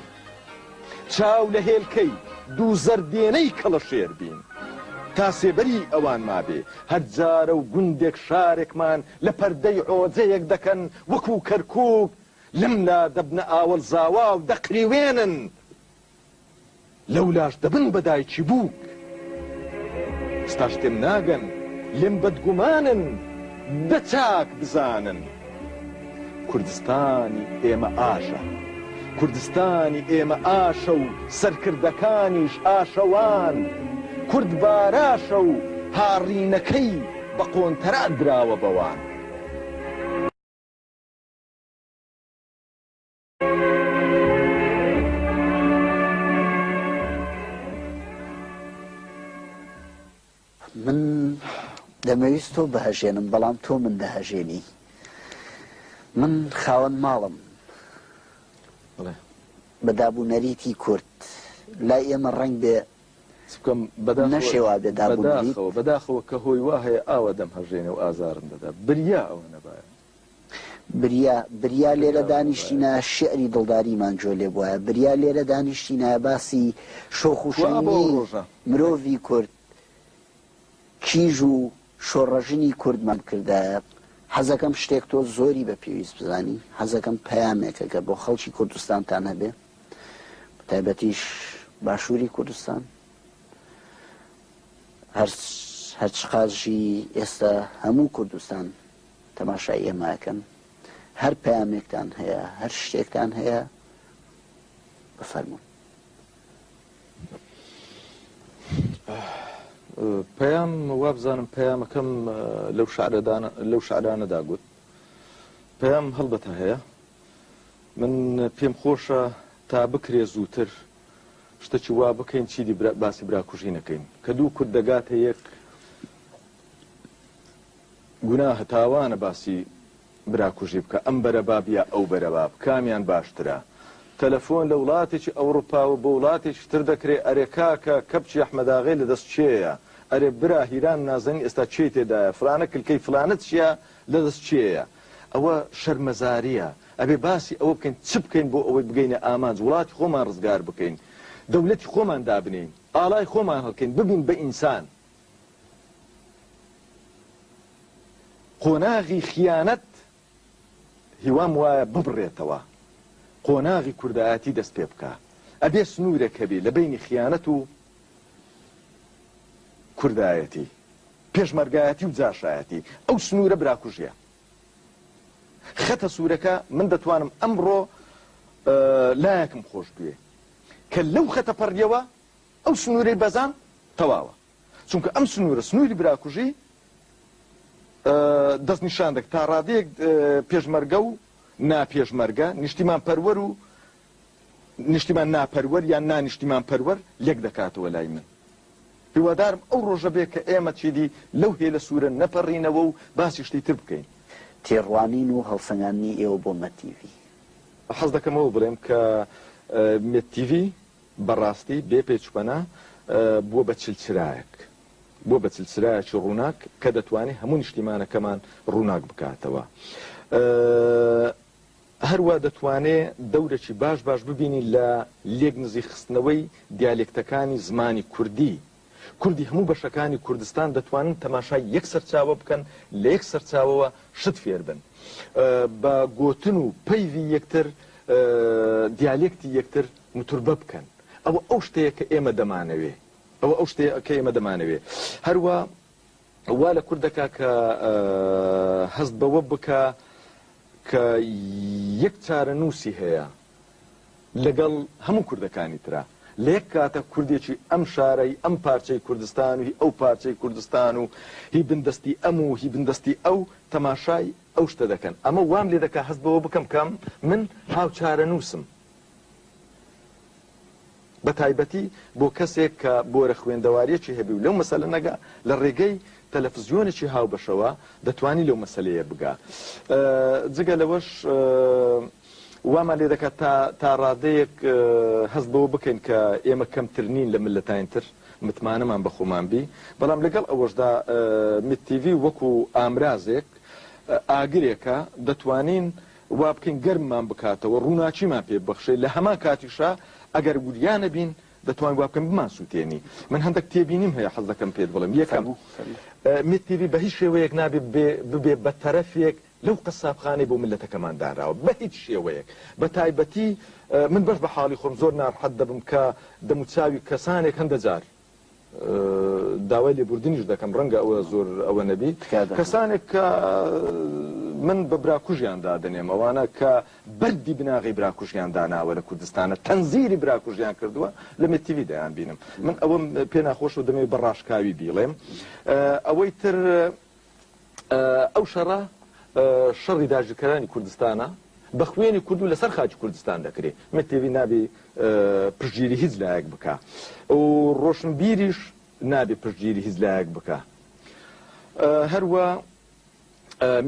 چاو لە هێلکەی دوو زەردێنەی کەڵەشێر بین. تا سێبەری ئەوان مابێ هەر جارە و گوندێک شارێکمان لە پەردەی عۆجەیەک دەکەن وەکوو کەرکووک، لەم لا دەبنە ئاوەڵ زاوا و دەقریوێنن، لەو لاش دەبن بە دایکی بووک. ئێستاش تێم ناگەن، لێم بەدگومانن، دە چاک بزانن. کوردستانی ئێمە ئاشە. کوردستانی ئێمە ئاشە و سەرکردەکانیش ئاشەوان. کورد باراشە و هاڕینەکەی. بە قۆنتەرات دراوە بە وان. من دەمەویست تۆ بهەژێنم بەڵام تۆ من دەهەژێنی من خاوەن ماڵم بە دابوو نەریتی کورد لای ئێمە ڕەنگ بێ نەشێ وا بێ داب و نەریت. بەداخەوە کە هۆی وا هەیە ئاوا دەمهەژێنێ و ئازارم دەدا. بریا ئەوە نەبایە. بریا، بریا لێرە دانیشتینایە شیعری دڵداریمان جوێ لێ بوایە. بریا لێرە دانیشتینایە باسی شۆخ و شەنگی مرۆڤی کورد کیژ و شۆڕژنی کوردمم کردایە حەزەکەم شتێک تۆ زۆری بە پێویست بزانی حەزەکەم پەیامێکە کە بۆ خەڵکی کوردستانتان هەبێ بە تایبەتیش باشووری کوردستان هەر هەرچ قاژی ئێستا هەموو کوردستان تەماشای ئێماکەن هەر پەیامێکتان هەیە هەر شتێکتان هەیە بفەرمونون پەیام وابزانم پەیامەکەم لەو شعرەدان لەو شعرانەدا گوت پەیام هەڵبەتە هەیە من پێم خۆشە تا بکرێ زووتر شتەکی وا بکەین چیدی باسی براکوژی نەکەین کە دوو کورد دەگاتە یەک گونا هەتاوانە باسی برا کوژی بکە ئەم بەرە باب یا ئەو بەرە باب کامیان باشترە تەلەفۆن لە وڵاتێکی ئەوڕوپاوە بۆ وڵاتێکی تر دەکرێ ئەرێ کاکە کەپچی ئەحمەداغێ لە دەست کێیە ئەرێ برا هیران نازەنی ئێستا کێی تێدایە فلانە کلکەی فلانە چیە لە دەست کێیە ئەوە شەرمەزاریە ئەبێ باسی ئەوە بکەین چ بکەین بۆ ئەوەی بگەینە ئامانج وڵاتی خۆمان ڕزگار بکەین دەولەتی خۆمان دابنێین ئاڵای خۆمان هەڵکەین ببین بە ئینسان. قۆناغی خیانەت هیوام وایە ببڕێتەوە قۆناغی کوردایەتی دەست پێ بکا ئەبێ سنوورێک هەبێ لە بینی خیانەت و کوردایەتی پێشمەرگایەتی و جاشایەتی ئەو سنوورە براکوژیە خەتە سوورەکە من دەتوانم ئەمڕۆ لایەکم خۆش بوێ کە لەو خەتە پەڕیەوە ئەو سنوورەی بەزاند تەواوە، چونکە ئەم سنوورە سنووری براکوژی دەستنیشان دەکات، تا ڕادەیەک پێشمەرگە و ناپێشمەرگە، نیشتیمانپەروەر و نیشتیمان ناپەروەر یان نانیشتیمانپەروەر لێک دەکاتەوە لای من. هیوادارم ئەو ڕۆژە بێت کە ئێمە چیدی لەو هێلە سوورە نەپەڕینەوە و باسی شتی تر بکەین. تێڕوانین و هەڵسەنگاندنی ئێوە بۆ مەد تیڤی. حەز دەکەمەوە بڵێم کە مەد تیڤی، بەڕاستی بێ پێچ و پەنا بووە بە چلچرایەک، بووە بە چلچرایەکی ڕووناک کە دەتوانێت هەموو نیشتیمانەکەمان ڕووناک بکاتەوە. هەروا دەتوانێت دەورێکی باش باش ببینین لە لێکنزیک خستنەوەی دیالێکتەکانی زمانی کوردی کوردی هەموو بەشەکانی کوردستان دەتوانن تەماشای یەک سەرچاوە بکەن لە یەک سەرچاوەوە شت فێر بن بە گۆتن و پەیڤی یەکتر دیالێکتی یەکتر متوربە بکەن ئەوە ئەو شتەیە کە ئێمە دەمانەوێ ئەوە ئەو شتەیە کە ئێمە دەمانەوێ هەروە وا لە کوردەکە کە هەست بەوە بکە کە یەک چارەنووسی هەیە لەگەڵ هەموو کوردەکانی ترا لە یەک کاتە کوردێکی ئەم شارە هی ئەم پارچەی کوردستان و هی ئەو پارچەی کوردستان و هی بندەستی ئەم و هی بندەستی ئەو تەماشای ئەو شتە دەکەن ئەمە وام لێ دەکا هەست بەوە بکەم کە من هاوچارەنووسم بە تایبەتی بۆ کەسێک کە بۆرە خوێندەواریەکی هەبی و لەو مەسەلە نەگا لە ڕێگەی تەلەفزیۆنێکی هاوبەشەوە دەتوانی لەو مەسلەیە بگا جگە لەوەش وامان لێ دەکات تا تا ڕادەیەک هەست بەوە بکەین کە ئێمە کەمتر نین لە مللەتاین تر، متمانەمان بە خۆمان بی، بەڵام لەگەڵ ئەوەشدا میت تیڤی وەکو ئامرازێک، ئاگرێکە دەتوانین وا بکەین گەرممان بکاتەوە، ڕووناکیمان پێ ببەخشێ، لە هەمان کاتیشا ئەگەر وریا نەبین دەتوانین وا بکەین بمانسووتێنی. من هەندەک تێبینیم هەیە حەز دەکەم پێت بڵێم. یەکەم، فەرموو. میت تیڤی بە هیچ شێوەیەک نابێ ببێ بە تەرەفێک لەو قەسابخانەی بۆ میللەتەکەمان دانراوە بەهیچ شێوەیەک بەتایبەتی من بەش بەحاڵی خۆم زۆر نارحەت دەبم کە دەموچاوی کەسانێک هەندە جار داوای لێبوردنیش دەکەم ڕەنگە ئەوە زۆر ئەوە نەبی کەسانێک کە من بە براکوژیان دادنێم ئەوانە کە بەردی بناغی براکوژیان داناوە لە کوردستانە تەنزیری براکوژیان کردووە لە متیوی دەیان بینم من ئەوەم پێ ناخۆش و دەمەوێت بە ڕاشکاوی بیڵێم ئەوەی تر ئەو شەڕە شەڕی داگیرکەرانی کوردستانە بە خوێنی کورد و لەسەر خاکی کوردستان دەکرێت مەکتێبی نابێ پشگیری هیچ لایەک بکە و ڕۆشنبیریش نابێ پشگیری هیچ لایەک بکە هەروە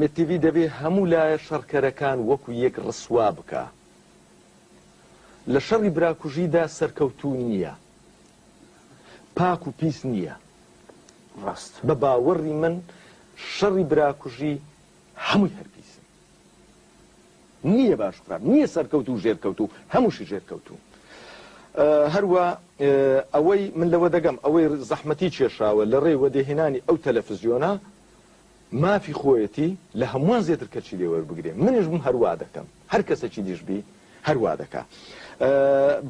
متیوی دەبێ هەموو لایە شەڕکەرەکان وەکو یەک ڕسوا بکە لە شەڕی براکوژیدا سەرکەوتو نییە پاک و پیس نییە ڕاست بە باوەڕی من شەڕی براکوژی هەمووی هەر پیسن نییە باش خراپ نییە سەرکەوت و ژێرکەوت و هەمووشی ژێرکەوتون هەروە ئەوەی من لەوە دەگەم ئەوەی زەحمەتی کێشاوە لە ڕێ وەدەهێنانی ئەو تەلەفزیۆنە مافی خۆیەتی لە هەمووان زێتر کەچی لێ وەربگرێ منیش بم هەر وا دەکەم هەر کەسەکی دیش بی هەر وا دەکا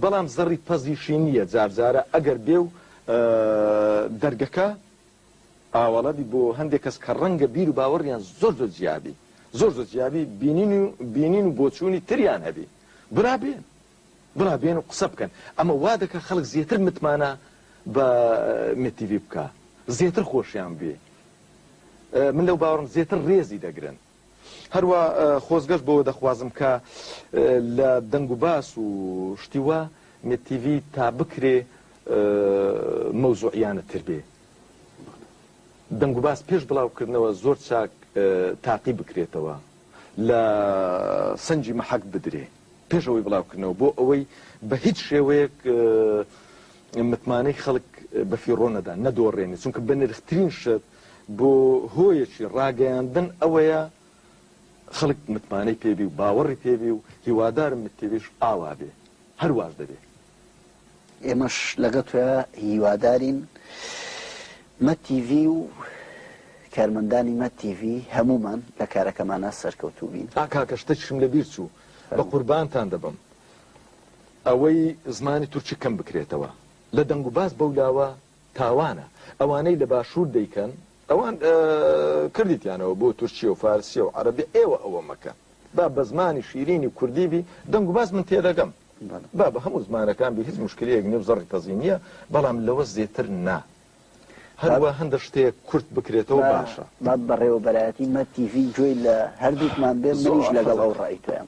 بەڵام زەڕی پەزیشی نییە جار جارە ئەگەر بێ و دەرگەکە ئاوەڵە بی بۆ هەندێک کەس کە ڕەنگە بیر و باوەڕیان زۆر زۆر جیابی زۆر زۆر جیابی بینین و بینین و بۆچوونی تریان هەبی برا بێن برا بێن و قسە بکەن ئەمە وا دەکا خەڵک زێتر متمانە بە مێت تیڤی بکا زێتر خۆشیان بوێ من لەو باوەڕم زێتر ڕێزی دەگرن هەروە خۆزگەش بۆ دەخوازم کە لە دەنگ و باس و شتی وا مێت تیڤی تا بکرێ مەوزوعیانە تر بێ دەنگ و باس پێش بڵاوکردنەوە زۆر چاک تاقی بکرێتەوە لە سنجی مەحەک بدرێ پێش ئەوەی بڵاوکردنەوە بۆ ئەوەی بە هیچ شێوەیەک متمانەی خەڵک بە فیڕۆ نەدا نەدۆڕێنێ چونکە بە نرخترین شت بۆ هۆیەکی ڕاگەیاندن ئەوەیە خەڵک متمانەی پێبی و باوەڕی پێبی و هیوادارم متێویش ئاوا بێ هەرواش دەبێ ئێمەش لەگەڵ تۆ هیوادارین مە تیڤی و کارمەندانی مە تیڤی هەمومان لە کارەکەمانە سەرکەوتوو بین. ئا کاکە شتەکیشم لە بیر چوو بە قوربانتان دەبم ئەوەی زمانی تورکی کەم بکرێتەوە لە دەنگ و باس بەولاوە تاوانە ئەوانەی لە باشور دەیکەن ئەوان کردیتیانەوە بۆ تورکیە و فارسیە و عەرەبی ئێوە ئەوە مەکەن با بە زمانی شیرینی کوردی بی دەنگ و باس من تێدەگەم با بە هەموو زمانەکان بی هیچ موشکلەیەک نیە و زەڕی قەزی نیە بەڵام لەوە زێتر نا هەروە هەندە شتەیەک کورت بکرێتەوە باشە. با بەڕێوەبەرایەتی مەد تیڤی گوێی لە هەردووکمان بێ منیش لەگەڵ ئەو ڕای تۆیەم.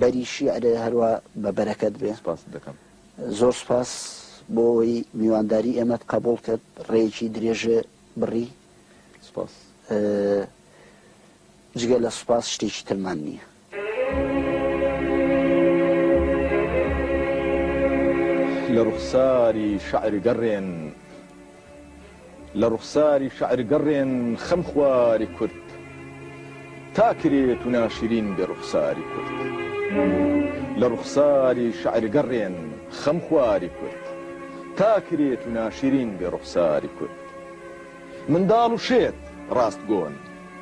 بەری شیعرێ هەروا بە بەرەکەت بێ. سپاست دەکەم. زۆر سپاس بۆ ئەوەی میوانداری ئێمەت قەبووڵ کرد، ڕێیەکی درێژێ بڕی. سپاس. جگە لە سپاس شتێکی ترمان نییە. لە ڕوخساری شعر گەڕێن. لە ڕوخساری شەعر گەڕێن خەم خواری کورد تا کرێت و ناشرین بێ ڕوخساری کورد لە ڕوخساری شەعر گەڕێن خەم خواری کورد تا کرێت و ناشرین بێ ڕوخساری کورد منداڵ و شێت ڕاست گۆن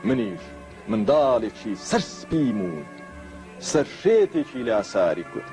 منیش منداڵێکی سەر سپیم و سەر شێتێکی لاساری کورد.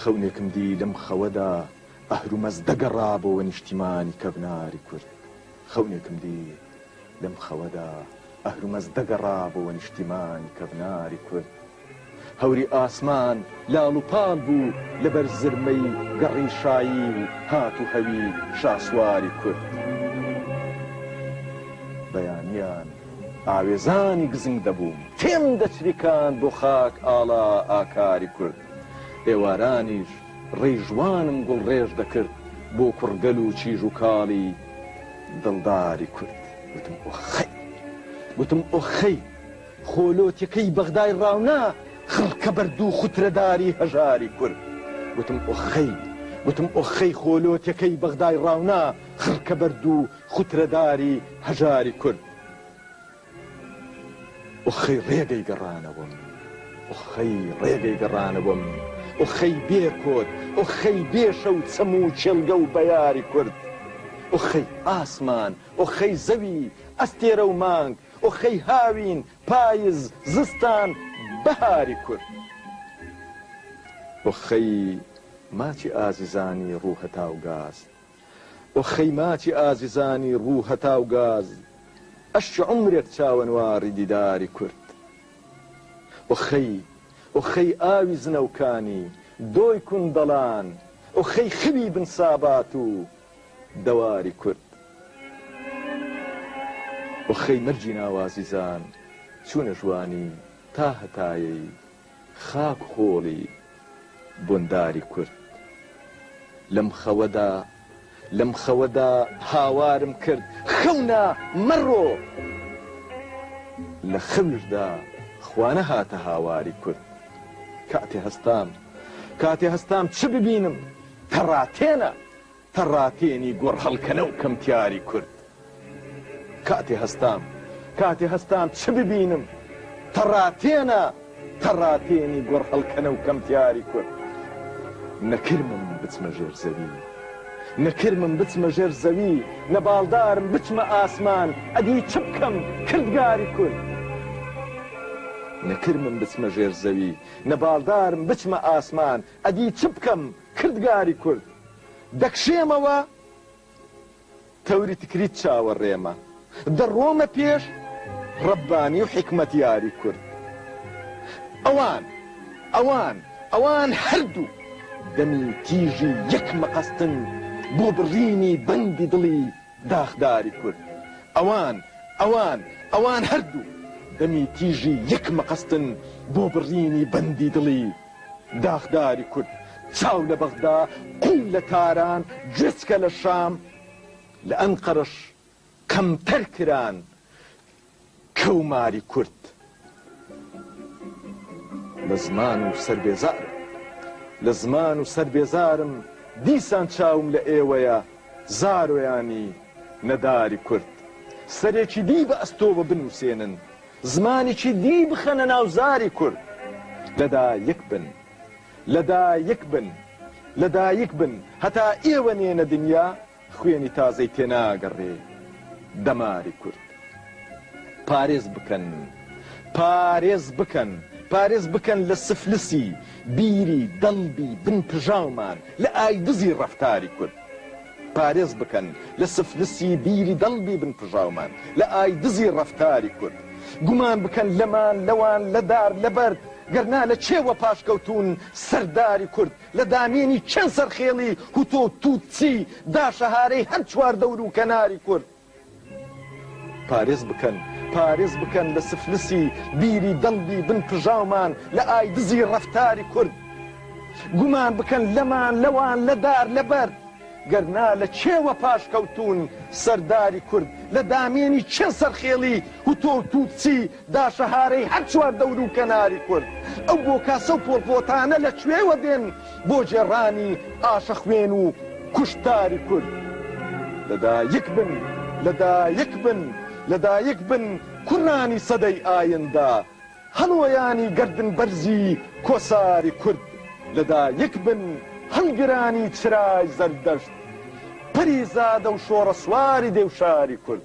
خەونێکم دی لەم خەوەدا ئەهرومەز دەگەڕا بۆوە نیشتیمانی کەڤناری کورد خەونێکم دی لەم خەوەدا ئەهرومەز دەگەڕا بۆوە نیشتیمانی کەڤناری کورد هەوری ئاسمان لاڵ و پاڵ بوو لەبەر زرمەی گەڕی شایی و هات و هەوی شاسواری کورد بەیانیان ئاوێزانی گزنگ دەبووم تێم دەچریکاند بۆ خاک ئاڵا ئاکاری کورد ئێوارانیش ڕیژوانم گوڵڕێژ دەکرد بۆ کوڕگەل و چیژ و کاڵی دڵداری کورد گوتم ئۆخەی گوتم ئۆخەی خۆ لۆتیکەی بەغدای ڕاونا خڕکە بەرد و خوترەداری هەژاری کورد گوتم ئۆخەی گوتم ئۆخەی خۆ لۆتیکەی بەغدای ڕاونا خڕکە بەرد و خوترەداری هەژاری کورد ئۆخەی ڕێگەی گەڕانەوەم ئۆخەی ڕێگەی گەڕانەوەم ئۆخەی بێ کۆت ئۆخەی بێ شەو چەم و کێڵگە و بەیاری کورد ئۆخەی ئاسمان ئۆخەی زەوی ئەستێرە و مانگ ئۆخەی هاوین پایز زستان بەهاری کورد ئۆخەی ماچی ئازیزانی ڕوو هەتاو گاز ئۆ خەی ماچی ئازیزانی ڕوو هەتاو گاز ئەشچ عومرێک چاوەنواڕی دیداری کورد ئۆ خەی ئۆ خەی ئاوی زنەوکانی دۆی کوندەڵان ئۆ خەی خەوی بن سابات و دەواری کورد ئۆ خەی مەرگی ناوازیزان چوونە ژوانی تا هەتایەی خاک خۆڵی بۆنداری کورد. لەم خەوەدا، لەم خەوەدا هاوارم کرد، خەونە مەڕۆ! لە خەویشدا خوانەهاتە هاواری کورد. کاتێ هەستام، کاتێ هەستام چ ببینم؟ تەڕاتێنە! تەڕاتێنی گۆڕ هەڵکەنە و کەمتیاری کورد کاتێ هەستام کاتێ هەستام چ ببینم تەڕاتێنە تەڕاتێنی گۆڕ هەڵکەنە و کەمتیاری کورد نەکرمم بچمە ژێر زەوی نەکرمم بچمە ژێر زەوی نە باڵدارم بچمە ئاسمان ئەدی چ بکەم کردگاری کورد نەکرمم بچمە ژێر زەوی نە باڵدارم بچمە ئاسمان ئەدی چ بکەم کردگاری کورد دەکشێمەوە تەوری تکریت چاوەڕێمە دەڕۆمە پێش ڕەبانی و حیکمەتیاری کورد ئەوان ئەوان ئەوان هەردوو دەمی تیژی یەک مەقەستن بۆ بڕینی بەندی دڵی داخداری کورد ئەوان ئەوان ئەوان هەردوو دەمی تیژی یەک مەقەستن بۆ بڕینی بەندی دڵی داخداری کورد چاو لە بەغدا قوو لە تاران گوێچکە لە شام لە ئەنقەرەش کەمتەر کران کەوماری کورد لە زمان و سەر بێزار لە زمان و سەر بێزارم دیسان چاوم لە ئێوەیە زارۆیانی نەداری کورد سەرێکی دی بە ئەستۆوە بنووسێنن زمانیکی دی بخەنە ناو زاری کورد لە دا یک بن لە دا یک بن لە دا یک بن هەتا ئێوە نێنە دنیا خوێنی تازەی تێ ناگەڕێ دە ماری کورد پارێز بکەن پارێز بکەن پارێز بکەن لە سفلسی بیری دەمبی بن پژاومان لە ئای دزی ڕەفتاری کورد. پارێز بکەن لە سفلسی بیری دەڵبی بن پژاومان لە ئای دزی ڕەفتاری کورد گومان بکەن لەمان لەوان لە دار لە بەرد گەر نا لە کێ وە پاشکەوتوون سەرداری کورد لە دامێنی کێن سەرخێڵی هوتۆ توتسی دا شەهارەی هەر چواردەورو کەناری کورد پارێز بکەن پارێز بکەن لە سفلسی بیری دەنگی بن پژاومان لە ئایدزی ڕەفتاری کورد گومان بکەن لەمان لەوان لە دار لە بەرد گەر نا لە کێوە پاشکەوتوون سەرداری کورد لە دامێنی کێ سەرخێڵی هوتۆ و توتسی دا شەهارەی هەر چوار دەوروو کەناری کورد ئەو بۆ کاسە و پۆڵپۆتانە لە کوێوە دێن بۆ گێڕانی ئاشە خوێن و کوشتاری کورد؟ لە دا یک بن لە دا یک بن لە دا یک بن کوڕانی سەدەی ئایندە هەڵۆیانی گەردن بەرزی کۆساری کورد لە دا یک بن هەڵگرانی چرای زەردەشت پەری زادە و شۆڕە سواری دێوشاری کورد.